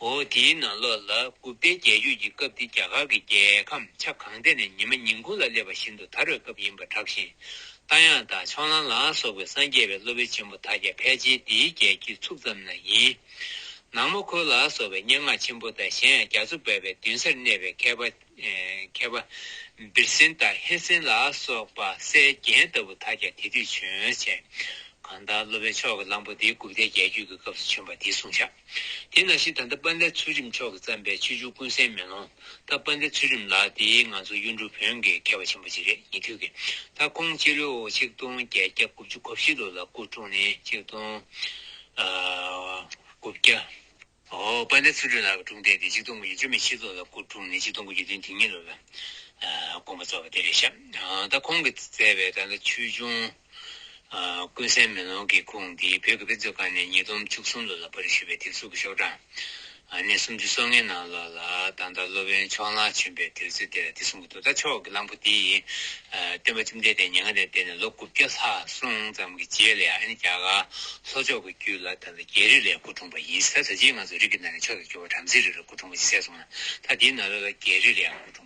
འོ་དེའི་ནང་ལོགས་ལ་སྦུབ་སྟེ་རྒྱལ་རྒྱུད་ཀྱི་སྐབས་དེ་རྒྱ་གར་གྱི་རྒྱལ་ཁམས་ཆ་གང་ཐད་ནས་ཉི་མ་ཉིན་གུང་ལ་སླེབས་པ་བཞིན་དུ་དར་བའི་སྐབས་ཡིན་པར་གྲགས་ཤིང། རྟ་དབྱངས་དང་ཕྱོགས་གླང་ལ་སོགས་པའི་སངས་རྒྱས་པའི་སློབ་དཔོན་ཆེན་པོ་དག་ཀྱང་ཕལ་ཆེར་འདིའི་རྒྱལ་གྱི་ཚུགས་ཙམ་ན་ཡིན། ནག་མོ་ཁོལ་ལ་སོགས་པའི་སྙན་ངག་ཆེན་པོ་དང་གཞན་ཡང་རྒྱ་མཚོ་འབབ་པའི་མདུན་སར་གནས་པའི་མཁས་པ། མཁས་པ། བིར་སེན་དང་ཧེ་སེན་ལ་སོགས་པ་སའི་རྒྱན་ལྟ་བུ་དག་ཀྱང་དེ་དུས་བྱོན། གང་ལྟར་སློབ་དཔོན་ཕྱོགས་ཀྱི་གླང་པོ་དེ་སྦུབ་སྟེ་རྒྱལ་རྒྱུད་ཀྱི་སྐབས་སུ་བྱོན་པ་དེའི་གསུང་བྱ། དེས་ན་ཤིས་ད་ལྟ་པཎ་ལའི་ཚུལ་རིམ་མཆོག་གིས་བརྩམས་པའི་ཆོས་བཅུ་ཀུན་གསལ་མེ་ལོང་ད་པཎ་ལའི་ཚུལ་རིམ་ལགས་དེ་ང་ཚོ་གཡུ་འབྲུག་བོན་གྱི་མཁས་པ་ཆེན་པོ་གཅིག་རེད་ཉེ་དུས་ཀྱི་ད་ཁོང་སྤྱི་ལོའོ་ཆིག་སྟོང་བརྒྱད་བརྒྱ་དགུ་བཅུ་གོ་བཞི་ལོ་ལ་སྐུ་བཀྲོངས་ནས་ཆིག་སྟོང་དགུ་བརྒྱ་པཎ་ལའི་ཚུལ་རིམ་ལགས་ཀྱི་དྲུང་བསྡད་དེ་ཆིག་སྟོང་དགུ་བརྒྱ་བཅུ་མེད་ཕྱེད་ལོ་ལ་སྐུ་བཀྲོངས་ནས་ཆིག་སྟོང་དགུ་བརྒྱ་དོན་དེ་ཉིད་ལོ་ལ་དགོངས་པ་རྫོགས་པ་དེ་རེད་ཤག་ད་ཁོང་གིས་མཛད་པའི་ད་ལྟ་ཆོས་འབྱུང། ཀུན་གསལ་མེ་ལོང་གི་ཁུངས་འདི་བོད་ཀྱི་དཔེ་མཛོད་ཁང་ནས་ཉིས་སྟོང་བཅུ་གསུམ་ལོ་ལ་པར་རིས་ཞུས་པའི་དེབ་གཟུགས་ཀྱི་ཤོག་གྲངས་གནས་སུམ་ཅུ་སོ་ལྔའི་ནང་ལོགས་ལ་ད་ལྟ་སློབ་དཔོན་མཆོག་གླང་ཆེན་པའི་དུས་ཚོད་དེ་ལ་དེ་གསུང་གི་འདུག་ད་ཕྱོགས་ཀྱི་གླང་པོ་དེ་ཡིས་སྟོན་པ་བཅོམ་ལྡན་འདས་ཉེ་སྔ་ལས་འདས་ནས་ལོ་དགུ་བརྒྱ་ལྷག་སོང་ཙམ་གྱི་རྗེས་ལ་ཡང་ཨ་ནི་རྒྱ་གར་ལྷོ་ཕྱོགས་ཀྱི་རྒྱུད་ལ་ད་ལྟ་རྒྱལ་རིགས་ལས་སྐུ་འཁྲུངས་པ་ཡིན་ད་ད་ཕྱིས་ང་ཚོ་རིགས་ཀྱི་ནང་ནས་ཕྱོགས་ཀྱི་རྒྱུ་བ་བྲམ་ཟེའི་རིགས་ལ་སྐུ་འཁྲུངས་པ་ཅིག་གསལ་སོང་ན་ད་དེའི་ནང་ལོགས་ལ་རྒྱལ་རིགས་ལ་ཡང་སྐུ་འཁྲུངས།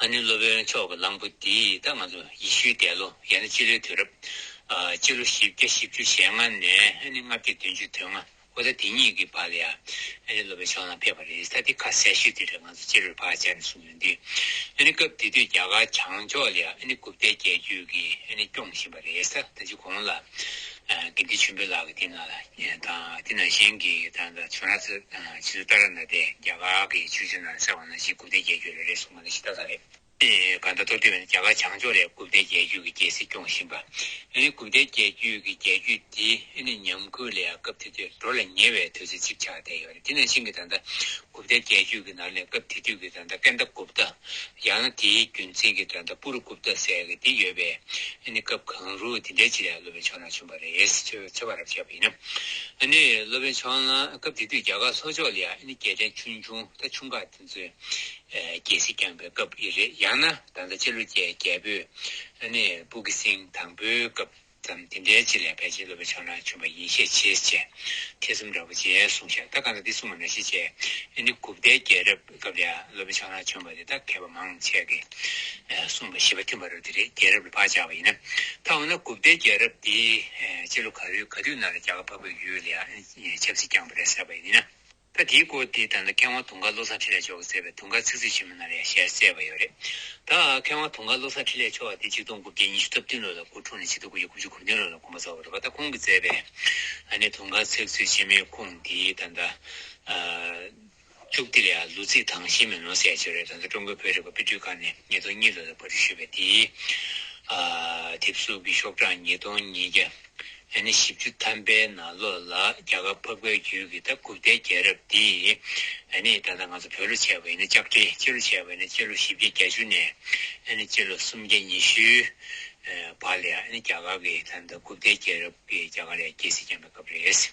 ཨ་ནུའི་སློབ་དཔོན་མཆོག་གི་གླང་པོ་འདིས་ད་ང་ཚོ་ཡེ་ཤུའི་འདས་ལོ་ཡང་ན་སྤྱི་ལོའི་དུས་རབས། སྤྱི་ལོ་བཞི་བརྒྱ་བཞི་བཅུ་ཞེ་ལྔ་ནས་ཨ་ནི་ལྔ་བརྒྱ་བདུན་ཅུ་དོན་ལྔ་ལོ་ཟླ་དེ་གཉིས་ཀྱི་བར་ལ་ཡང་ཨ་ནི་སློབ་དཔོན་མཆོག་ལང་ཕེབས་པ་རེད་ས་དེ་ཁ་གསལ་ཤོད་དེ་རེད་ང་ཚོ་སྤྱི་ལོར་བག་ཆགས་ནས་གསུངས་ཡོང་དུས་ཨ་ནི་སྐབས་དེ་དུས་རྒྱ་གར་བྱང་ཕྱོགས་ལ་ཡང་ཨ་ནི་གུབ་ཏའི་རྒྱལ་རྒྱུད་ཀྱིས་ཨ་ནི་སྐྱོང་བཞིན་པ་རེད་ས་ད་ཅི་གོང་ལ་དགེ་འདུན་ཆེན་པོའི་ལག་གི་སྟེང་ན་ལ་དང་དེ་ན་གཞན་གྱི་དང་ད་བྱོན་ར་ཚོད་ཇི་སུ་ལྟར་ན་དེ་རྒྱ་གར་གྱི་ཆོས་ཆུང་ན་གསལ་བ་ན་གཞི་དགུ་བདེ་རྒྱལ་རྒྱུད་ལས་རེ་ཟུང་མ་ནི་ཤི་ད་ལ་རེ། གང་ད་སྟོབས་ལྡན་བས་ན་རྒྱ་གར་བྱང་ཕྱོགས་ལས་དགུ་བདེ་རྒྱལ་རྒྱུད་ཀྱི་རྒྱལ་སྲིད་སྐྱོང་བཞིན་པ། ཨེ་ནི་དགུ་བདེ་རྒྱལ་རྒྱུད་ཀྱི་རྒྱལ་རྒྱུད་འདི་ཨེ་ནི་ཉམས་རྒུད་ལས་སྐབས་དེ་དུས་འགྲོ་ལ་ཉེ་བའི་དུས་ཚོད་ཅིག་ཆགས་བསྡད་ཡོད། དེ་ནས་ཤིང་གི་ད་ལྟ་གུབ་རྟའི་རྒྱལ་རྒྱུད་ཀྱི་ནང་ནས་སྐབས་དེ་དུས་ཀྱི་ད་ལྟ་ཀན་ད་གུབ་རྟ། ཡང་ན་དེའི་རྒྱུན་འཛིན་གྱི་ད་ལྟ་པུ་རུ་གུབ་རྟ་ཟེར་གྱི་དེ་ཡོད་པས་ཨ་ནི་སྐབས་གང་རུང་དེ་འདྲའི་སྤྱི་ལ་སློབ་དཔོན་ཕྱོགས་ནང་བྱོན་པ་རེད་ཅེས་འཚོལ་བ་རབ་ཆེ་བ་ཡིན། ཨ་ནི་སློབ་དཔོན་ཕྱོགས་ནང་སྐབས་དེ་དུས་རྒྱ་གར་ལྷོ་ཕྱོགས་ལ་ཡང་ཨ་ནི་རྒྱལ་ཕྲན་ཆུང་ཆུང་ད་ཆུང་ཁག་དེ་ཚོས་རྒྱལ་སྲིད་བསྐྱངས་པའི་སྐབས་ཡིན་རེད་ཡང་ན་ད་ལྟ་སྤྱི་ལོ་བརྒྱད་བརྒྱད་པོའི་ཨ་ནི་སྤུ་གི་སིང་དང་པོའི་སྐབས། ཙམ་དེ་འདྲའི་ཆེད་ལས་ཕལ་ཆེར་སློབ་པའི་ཕྱོགས་ན་བྱུང་བ་ཡིན་ཤས་ཆེ་ཅེས་ཐེ་ཚོམ་འདྲ་བོ་ཅན་གསུངས་ཤག་ད་གང་ལྟར་འདི་གསུངས་པ་ན་ཤས་ཆེ། ཨེ་ནི་གུཔྟའི་རྒྱལ་རབས་སྐབས་ལས་སློབ་པའི་ཕྱོགས་ན་བྱུང་བ་དེ་དག་མཁས་པ་མང་ཆེ་གེ་གསུངས་པ་བཞི་པ་མཐུན་པ་རུ་དེ་རེ་རྒྱལ་རབས་ལ་བག་ཆགས་པ་ཡིན་ན་ད་འོ་ན་གུཔྟའི་རྒྱལ་རབས་དེའི་ཕྱི་ལོ་ག་རེའུ་ག་དུས་ན་ལ་རྒྱ་གར་འཕགས་པའི་ཡུལ་ལ་ཡང་ཆབ་སྲིད་བསྐྱངས་པ་རེད་ཟེར་བ་ཡིན་ན། ད་དེའི་སྐོར་དེ་ལྟར་ན་མཁས་དབང་དུང་དཀར་བློ་བཟང་འཕྲིན་ལས་མཆོག་གིས་མཛད་པའི་དུང་དཀར་ཚིག་མཛོད་ཆེན་མོ་ནང་ལས་གཞན་གསལ་བ་ཡོད་རེད་ད། མཁས་དབང་དུང་དཀར་བློ་བཟང་འཕྲིན་ལས་མཆོག་དེ་གཅིག་སྟོང་དགུ་བརྒྱ་ཉི་ཤུ་རྩ་བདུན་ལོ་ལ་སྐུ་འཁྲུངས་ནས་ཕྱི་ཟླ་དགུ་བརྒྱ་དགུ་བཅུ་དགུ་བདུན་ལོ་ལ་དགོངས་པ་རྫོགས་པ་རེད་པ་ད་ཁོང་གིས་མཛད་པའི་ཨ་ནེ་དུང་དཀར་ཚིག་མཛོད་ཆེན་མོའི་ཁུངས་འདིའི་ད་ལྟ་བཅུག་དེ་ལས་ལུག་ཚིག་དྭངས་ཤིང་མེ་ལོང་གསལ་བྱེད་རེད་ད་ལྟ་ཀྲུང་གོའི་བོད་རིག་པ་དཔེ་སྐྲུན་ཁང་ནས་ཉིས་སྟོང་གཉིས་ལོ་ལ་པར་སྐྲུན་ཞུས་པའི་དེའི་དེབ་གཟུགས་ཀྱི་ཤོག་གྲངས་ཉིས་སྟོང་ཉིས་བརྒྱ། ལས་ནི་བཞི་བཅུ་ཐམ་པའི་ནང་ལོ་ལ་རྒྱ་གར་འཕགས་པའི་རྒྱུད་ཀྱི་ད་ཀུབ་ཏའི་རྒྱལ་རབས་འདི། ལས་ནི་ད་ལྟ་ང་ཚོ་བོད་ལོ་བྱས་པ་ཡིན་ན་ལྕགས་སྤྲེལ་སྤྱི་ལོ་བྱས་པ་ཡིན་ན་སྤྱི་ལོ་བཞི་བརྒྱ་གྱ་བཅུ་ནས། ལས་ནི་སྤྱི་ལོ་སུམ་བརྒྱ་ཉི་ཤུའི་བར་ལ་ཡང་ནི་རྒྱ་གར་གྱི་ད་ད་ཀུབ་ཏའི་རྒྱལ་རབས་ཀྱི་རྒྱ་གར་ཡ་རྒྱལ་སྲིད་བསྐྱངས་པའི་སྐབས་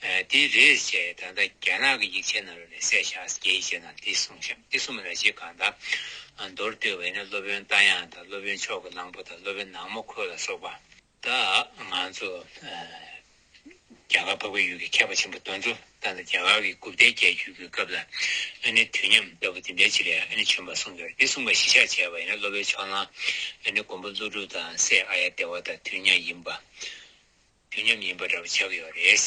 རེད། དེ་རེད་ཅེས་ད་ལྟ་རྒྱ་ནག་གི་ཡིག་ཆའི་ནང་རོལ་ནས་སད་ཤག་རྒྱའི་ཡིག་ཆའི་ནང་དེ་གསུངས་ཤིང་དེ་གསུངས་པ་ལ་ཅི་གང་དང་མདོར་བསྟོད་པ་ཡིན་ན་སློབ་དཔོན་རྟ་དབྱངས་དང་སློབ་དཔོན་མཆོག་གི་གླང་པོ་དང་སློབ་དཔོན་ནག་མོ་ཁོལ་ལ་སོགས་པ། ད་ང་ཚོ་རྒྱ་གར་འཕགས་པའི་ཡུལ་གྱི་མཁས་པ་ཆེན་པོ་དོན་གཙོ་དང་ནི་རྒྱ་གར་གྱི་དགུ་བརྒྱ་བརྒྱད་ཅུ་གྱི་སྐབས་ལ་ཨ་ནི་དུས་མཉམ་ལྟ་བུ་དེ་འདྲའི་ཆེད་ལས་ཨ་ནི་བྱོན་པར་གསུངས་ཡོད་འདི་གསུངས་པ་གཞི་ཆགས་བྱས་པ་ཡིན་ན་སློབ་པའི་ཕྱོགས་ན་ཨ་ནི་མགོན་པོ་ཀླུ་སྒྲུབ་དང་སེ་ཨ་ཡ་སྡེ་བ་དང་དུས་མཉམ་ཡིན་པ་དུས་མཉམ་ཡིན་པ་འདྲ་བོ་ཆགས་ཡོད་རེད།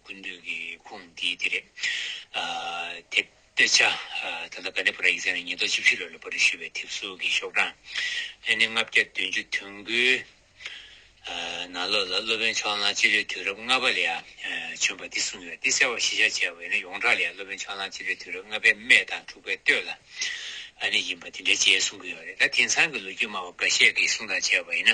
ཀུན་བཏུས་ཀྱི་ཁུངས་འདི་འདི་རེད། དེ་དཔེ་ཆ། ད་ལྟ་ག་ནི་བོ་ར་ཡིག་ཚང་ནས་ཉིས་སྟོང་བཅུ་བཞི་ལོ་ལོ་བོ་རིག་ཞུ་བའི་དེབ་གཟུགས་ཀྱི་ཤོག་གྲངས། ཨེ་ནི་ལྔ་བརྒྱ་བདུན་ཅུ་དོན་དགུའི། ནང་ལོགས་ལ་སློབ་དཔོན་ཕྱོགས་གླང་སྤྱི་ལོའི་དུས་རབས་ལྔ་པ་ལས་བྱོན་པ་འདི་གསུངས་ཡོད་དེ་གསལ་བར་གཞི་བཞག་བྱས་པ་ཨེ་ནི་ཡོངས་གྲགས་ལས་སློབ་དཔོན་ཕྱོགས་གླང་སྤྱི་ལོའི་དུས་རབས་ལྔ་པའི་སྨད་དང་དྲུག་པའི་སྟོད་ལ་ཨ་ནི་ཡིན་པ་དེ་འདྲའི་བཅས་གསུངས་ཀྱི་ཡོད་རེད་ད་དེང་སང་གི་ལོ་རྒྱུས་སྨྲ་བ་འགའ་ཤས་ཀྱིས་གསུངས་དང་བྱས་པ་ཨེ་ནི།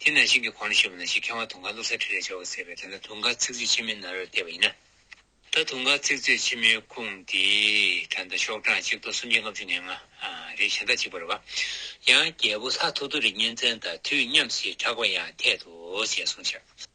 དེ་ན་ཤིང་གི་གོང་ནས་ཤེས་པ་ན་ཤིང་ཁེང་བ་དུང་དཀར་བླུགས་སར་ཁྲིད་ལས་བྱ་བར་ཟད་པས་དེ་ན་དུང་དཀར་ཚིག་མཛོད་ཆེན་མོའི་ནཱ་རོས་བལྟས་པ་ཡིན་ན། ད་དུང་དཀར་ཚིག་མཛོད་ཆེན་མོའི་ཁུངས་དེ་གྲངས་དང་ཤོག་གྲངས་གཅིག་སྟོང་སུམ་བརྒྱ་ལྔ་བཅུ་ནས་ལྔ། རེ་གཞན་དག་གཅིག་པར་བ། ཡང་རྒྱལ་པོ་ལྷ་ཐོ་ཐོ་རི་གཉན་བཙན་དང་དུས་མཉམ་ཞེས་གྲགས་པ་ཡང་འཐད་དོ་ཞེས་གསུངས་ཕྱིར།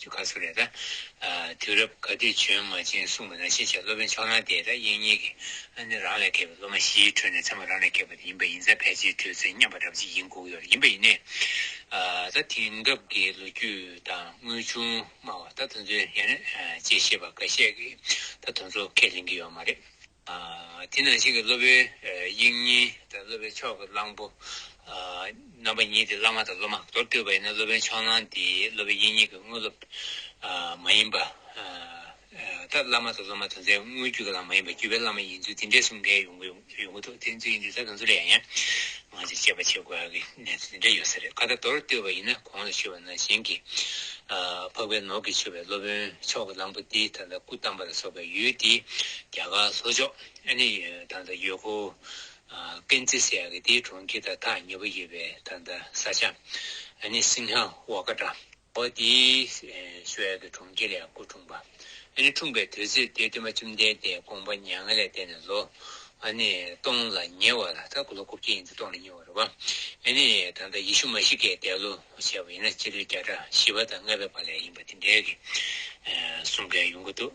ཆུ་ཁ་སོགས་རེད་ད། དུས་རབས་ག་དུས་བྱོན་མ་བྱོན་གསུངས་པ་ན་ཤེས་བྱའི་སློབ་དཔོན་ཕྱོགས་ནང་དེས་ད་ཡིན་གཉིས་ཀྱི་ཨ་ནི་རང་ལས་བརྒལ་བའི་སློབ་མ་བཞིའི་ཁྲོད་ནས་ཚད་མ་རང་ལས་བརྒལ་བ་དེ་ཡིན་པ་ཡིན་ཚད་ཕལ་ཆེར་གྲོས་ཚོད་མཉམ་པ་འདྲ་བ་ཅིག་ཡིན་དགོས་ཀྱི་ཡོད་རེད་ཡིན་པ་ཡིན་ནའི། ད་དེང་སྐབས་ཀྱི་ལོ་རྒྱུས་དང་དངོས་བྱུང་སྨྲ་བ་ད་དུ་འཛོལ་ཡང་ནས་བཅད་ཤེས་པ་འགའ་ཤས་ཀྱིས་ད་དུ་འཚོ་སྐད་ལེན་གྱི་ཡོད་མ་རེད། དེ་ནང་བཞིན་གྱི་སློབ་དཔོན་དབྱིངས་ཉིད་དང་སློབ་པའི་མཆོག་གི་གླང་པོ། རྣམ་པ་གཉིས་ཏེ་བླ་མ་དང་སློབ་མ་མདོར་བསྡུས་པ་ཡིན་ན་སློབ་དཔོན་མཆོག་གླང་དེ་སློབ་པའི་དབྱིངས་ཉིད་ཀྱི་དངོས་སློབ་མ་ཡིན་པ། ལྟར་བླ་མ་དང་སློབ་མ་དོན་མཚན་དངོས་བརྒྱུད་ཀྱི་ལམ་མ་ཡིན་པར་བརྒྱུད་པའི་བླ་མ་ཡིན་ཚུལ་འདི་འགྲེལ་གསུམ་གའི་ཡོངས་གྲུབ་ཡོངས་གྲུབ་བསྟན་བཅོས་འདི་དག་དང་མཚུངས་པ་ཡང། ང་ཚོས་དཔྱད་པ་བྱེད་དགོས་ཀྱི་གནས་ཚུལ་འདྲ་ཡོད་ས་རེད་ཁ་བརྡ་མདོར་བསྡུས་པ་ཡིན་ན་གོང་ལ་ཞུས་པ་ན་གཞན་གྱིས་འཕགས་པའི་ནོར་གྱིས་མཆོད་པའི་སློབ་དཔོན་མཆོག་གི་གླང་པོ་ཏི་དང་ད་སྐུ་བལྟམས་པ་ལ་སོགས་པའི་ཡུལ་དེའི་རྒྱ་གར་ལྷོ་ཕྱོགས་ཨ་ནི་དང་ད་ཡོད་ཁོ་ཀན་ཙི་སེ་ཡ་གི་དེའི་གྲོང་ཁྱེར་དང་ཐག་ཉེ་པོ་ཡོད་པའི་དང་ད་ས་ཆ་ཨ་ནི་སིང་ཧ་བྷ་ཀ་ཏྲ། པ་དེ། སོ་ཡ་དེ་གྲོང་ཁྱེར་ཡང་སྐུ་འཁྲུངས་པ། ཨ་ནི་འཁྲུངས་པའི་དུས་ཚོད་དེ་སྟོན་པ་བཅོམ་ལྡན་འདས་དགོངས་པ་མྱ་ངན་ལས་འདས་ནས་ལོ། ཨ་ནི་སྟོང་ལ་ཉེ་བ་ལ་ད་གུ་ལོ་དགུ་བརྒྱ་ཡིན་ཏེ་སྟོང་ལ་ཉེ་བ་རེད་བ། ཨེ་ནི་ད་ལྟ་ཡེ་ཤུ་མཱ་ཤི་ཀའི་འདས་ལོ་བྱས་པ་ཡིན་ན་སྤྱི་ལོའི་བརྒྱ་ཕྲག་བཞི་བ་དང་ལྔ་བའི་བར་ལས་ཡིན་པ་དེ་འདྲའི་གསུང་མཁན་ཡོང་གི་འདུག།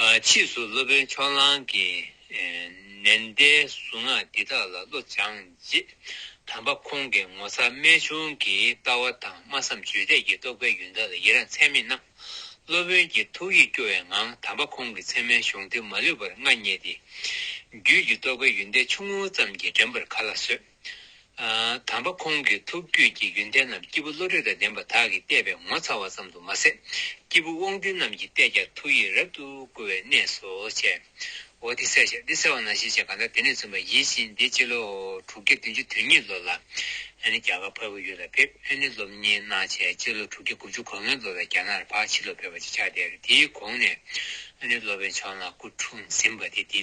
ཕྱིས་སུ་སློབ་དཔོན་ཕྱོགས་གླང་གིས་ནན་ཏའི་གཟུངས་སྔགས་འདི་དག་ལ་བློ་སྦྱངས་རྗེས། དམ་པ་ཁོང་གིས་ངོ་མཚར་རྨད་བྱུང་གི་ལྟ་བ་དང་སྨྲ་བསམ་བརྗོད་བྲལ་གྱི་རྟོགས་པའི་ཡོན་བདག་ལ་ཡི་རངས་ཚད་མེད་གནང། སློབ་དཔོན་གྱིས་ཐུགས་ཡིད་སྐྱོ་བའི་ངང་དམ་པ་ཁོང་གི་མཚན་མའི་གཞུང་དེ་མ་ལུས་པར་མངའ་བརྙེས་ཏེ། རྒྱུད་ཀྱི་རྟོགས་པའི་ཡོན་ཏན་ཆུང་ངུ་ཙམ་གྱིས་འགྲན་པར་ག་ལ་བཟོད། དམ་པ་ཁོང་གི་ཐུགས་རྒྱུད་ཀྱི་ཡོན་ཏན་རྣམས་སྐྱེས་བུ་བློ་གྲོས་དང་ལྡན་པ་དག་གིས་བལྟས་པས་ངོ་ཚ་བ་ཙམ་དུ་མ་ཟད་སྐྱེས་བུ་དབང་སྡུད་རྣམས་ཀྱིས་བལྟས་ཀྱང་ཐུགས་ཡིད་རབ་ཏུ་བསྐུལ་བའི་གནས་སོ། བྱའོ། འདི་གསལ་བྱ་འདི་གསལ་བ་ན་ཞེས་བྱ་གང་དག་དེ་ནས་བཙུན་པ་ཡིད་བཞིན་འདི་སྤྱི་ལོ་དྲུག་བརྒྱ་བདུན་ཅུ་དོན་གཉིས་ལོ་ལ་ཨན་ནི་རྒྱ་གར་ཕ་བོད་ཡུལ་ལ་ཕེབས་ཨན་ནི་སློབ་གཉེར་གནང་བྱས་སྤྱི་ལོ་དྲུག་བརྒྱ་དགུ་བཅུ་གོ་ལྔའི་ལོ་ལ་རྒྱ་ནག་ལ་ཕག་ཕྱི་ལོ་ཕེབས་པ་ཅིག་ཆགས་དེར་དེའི་གོང་ནས་ཨན་ནི་སློབ་པའི་མཆོག་ནག་སྐུ་འཁྲུངས་ཟིན་པ་དེ་དེའི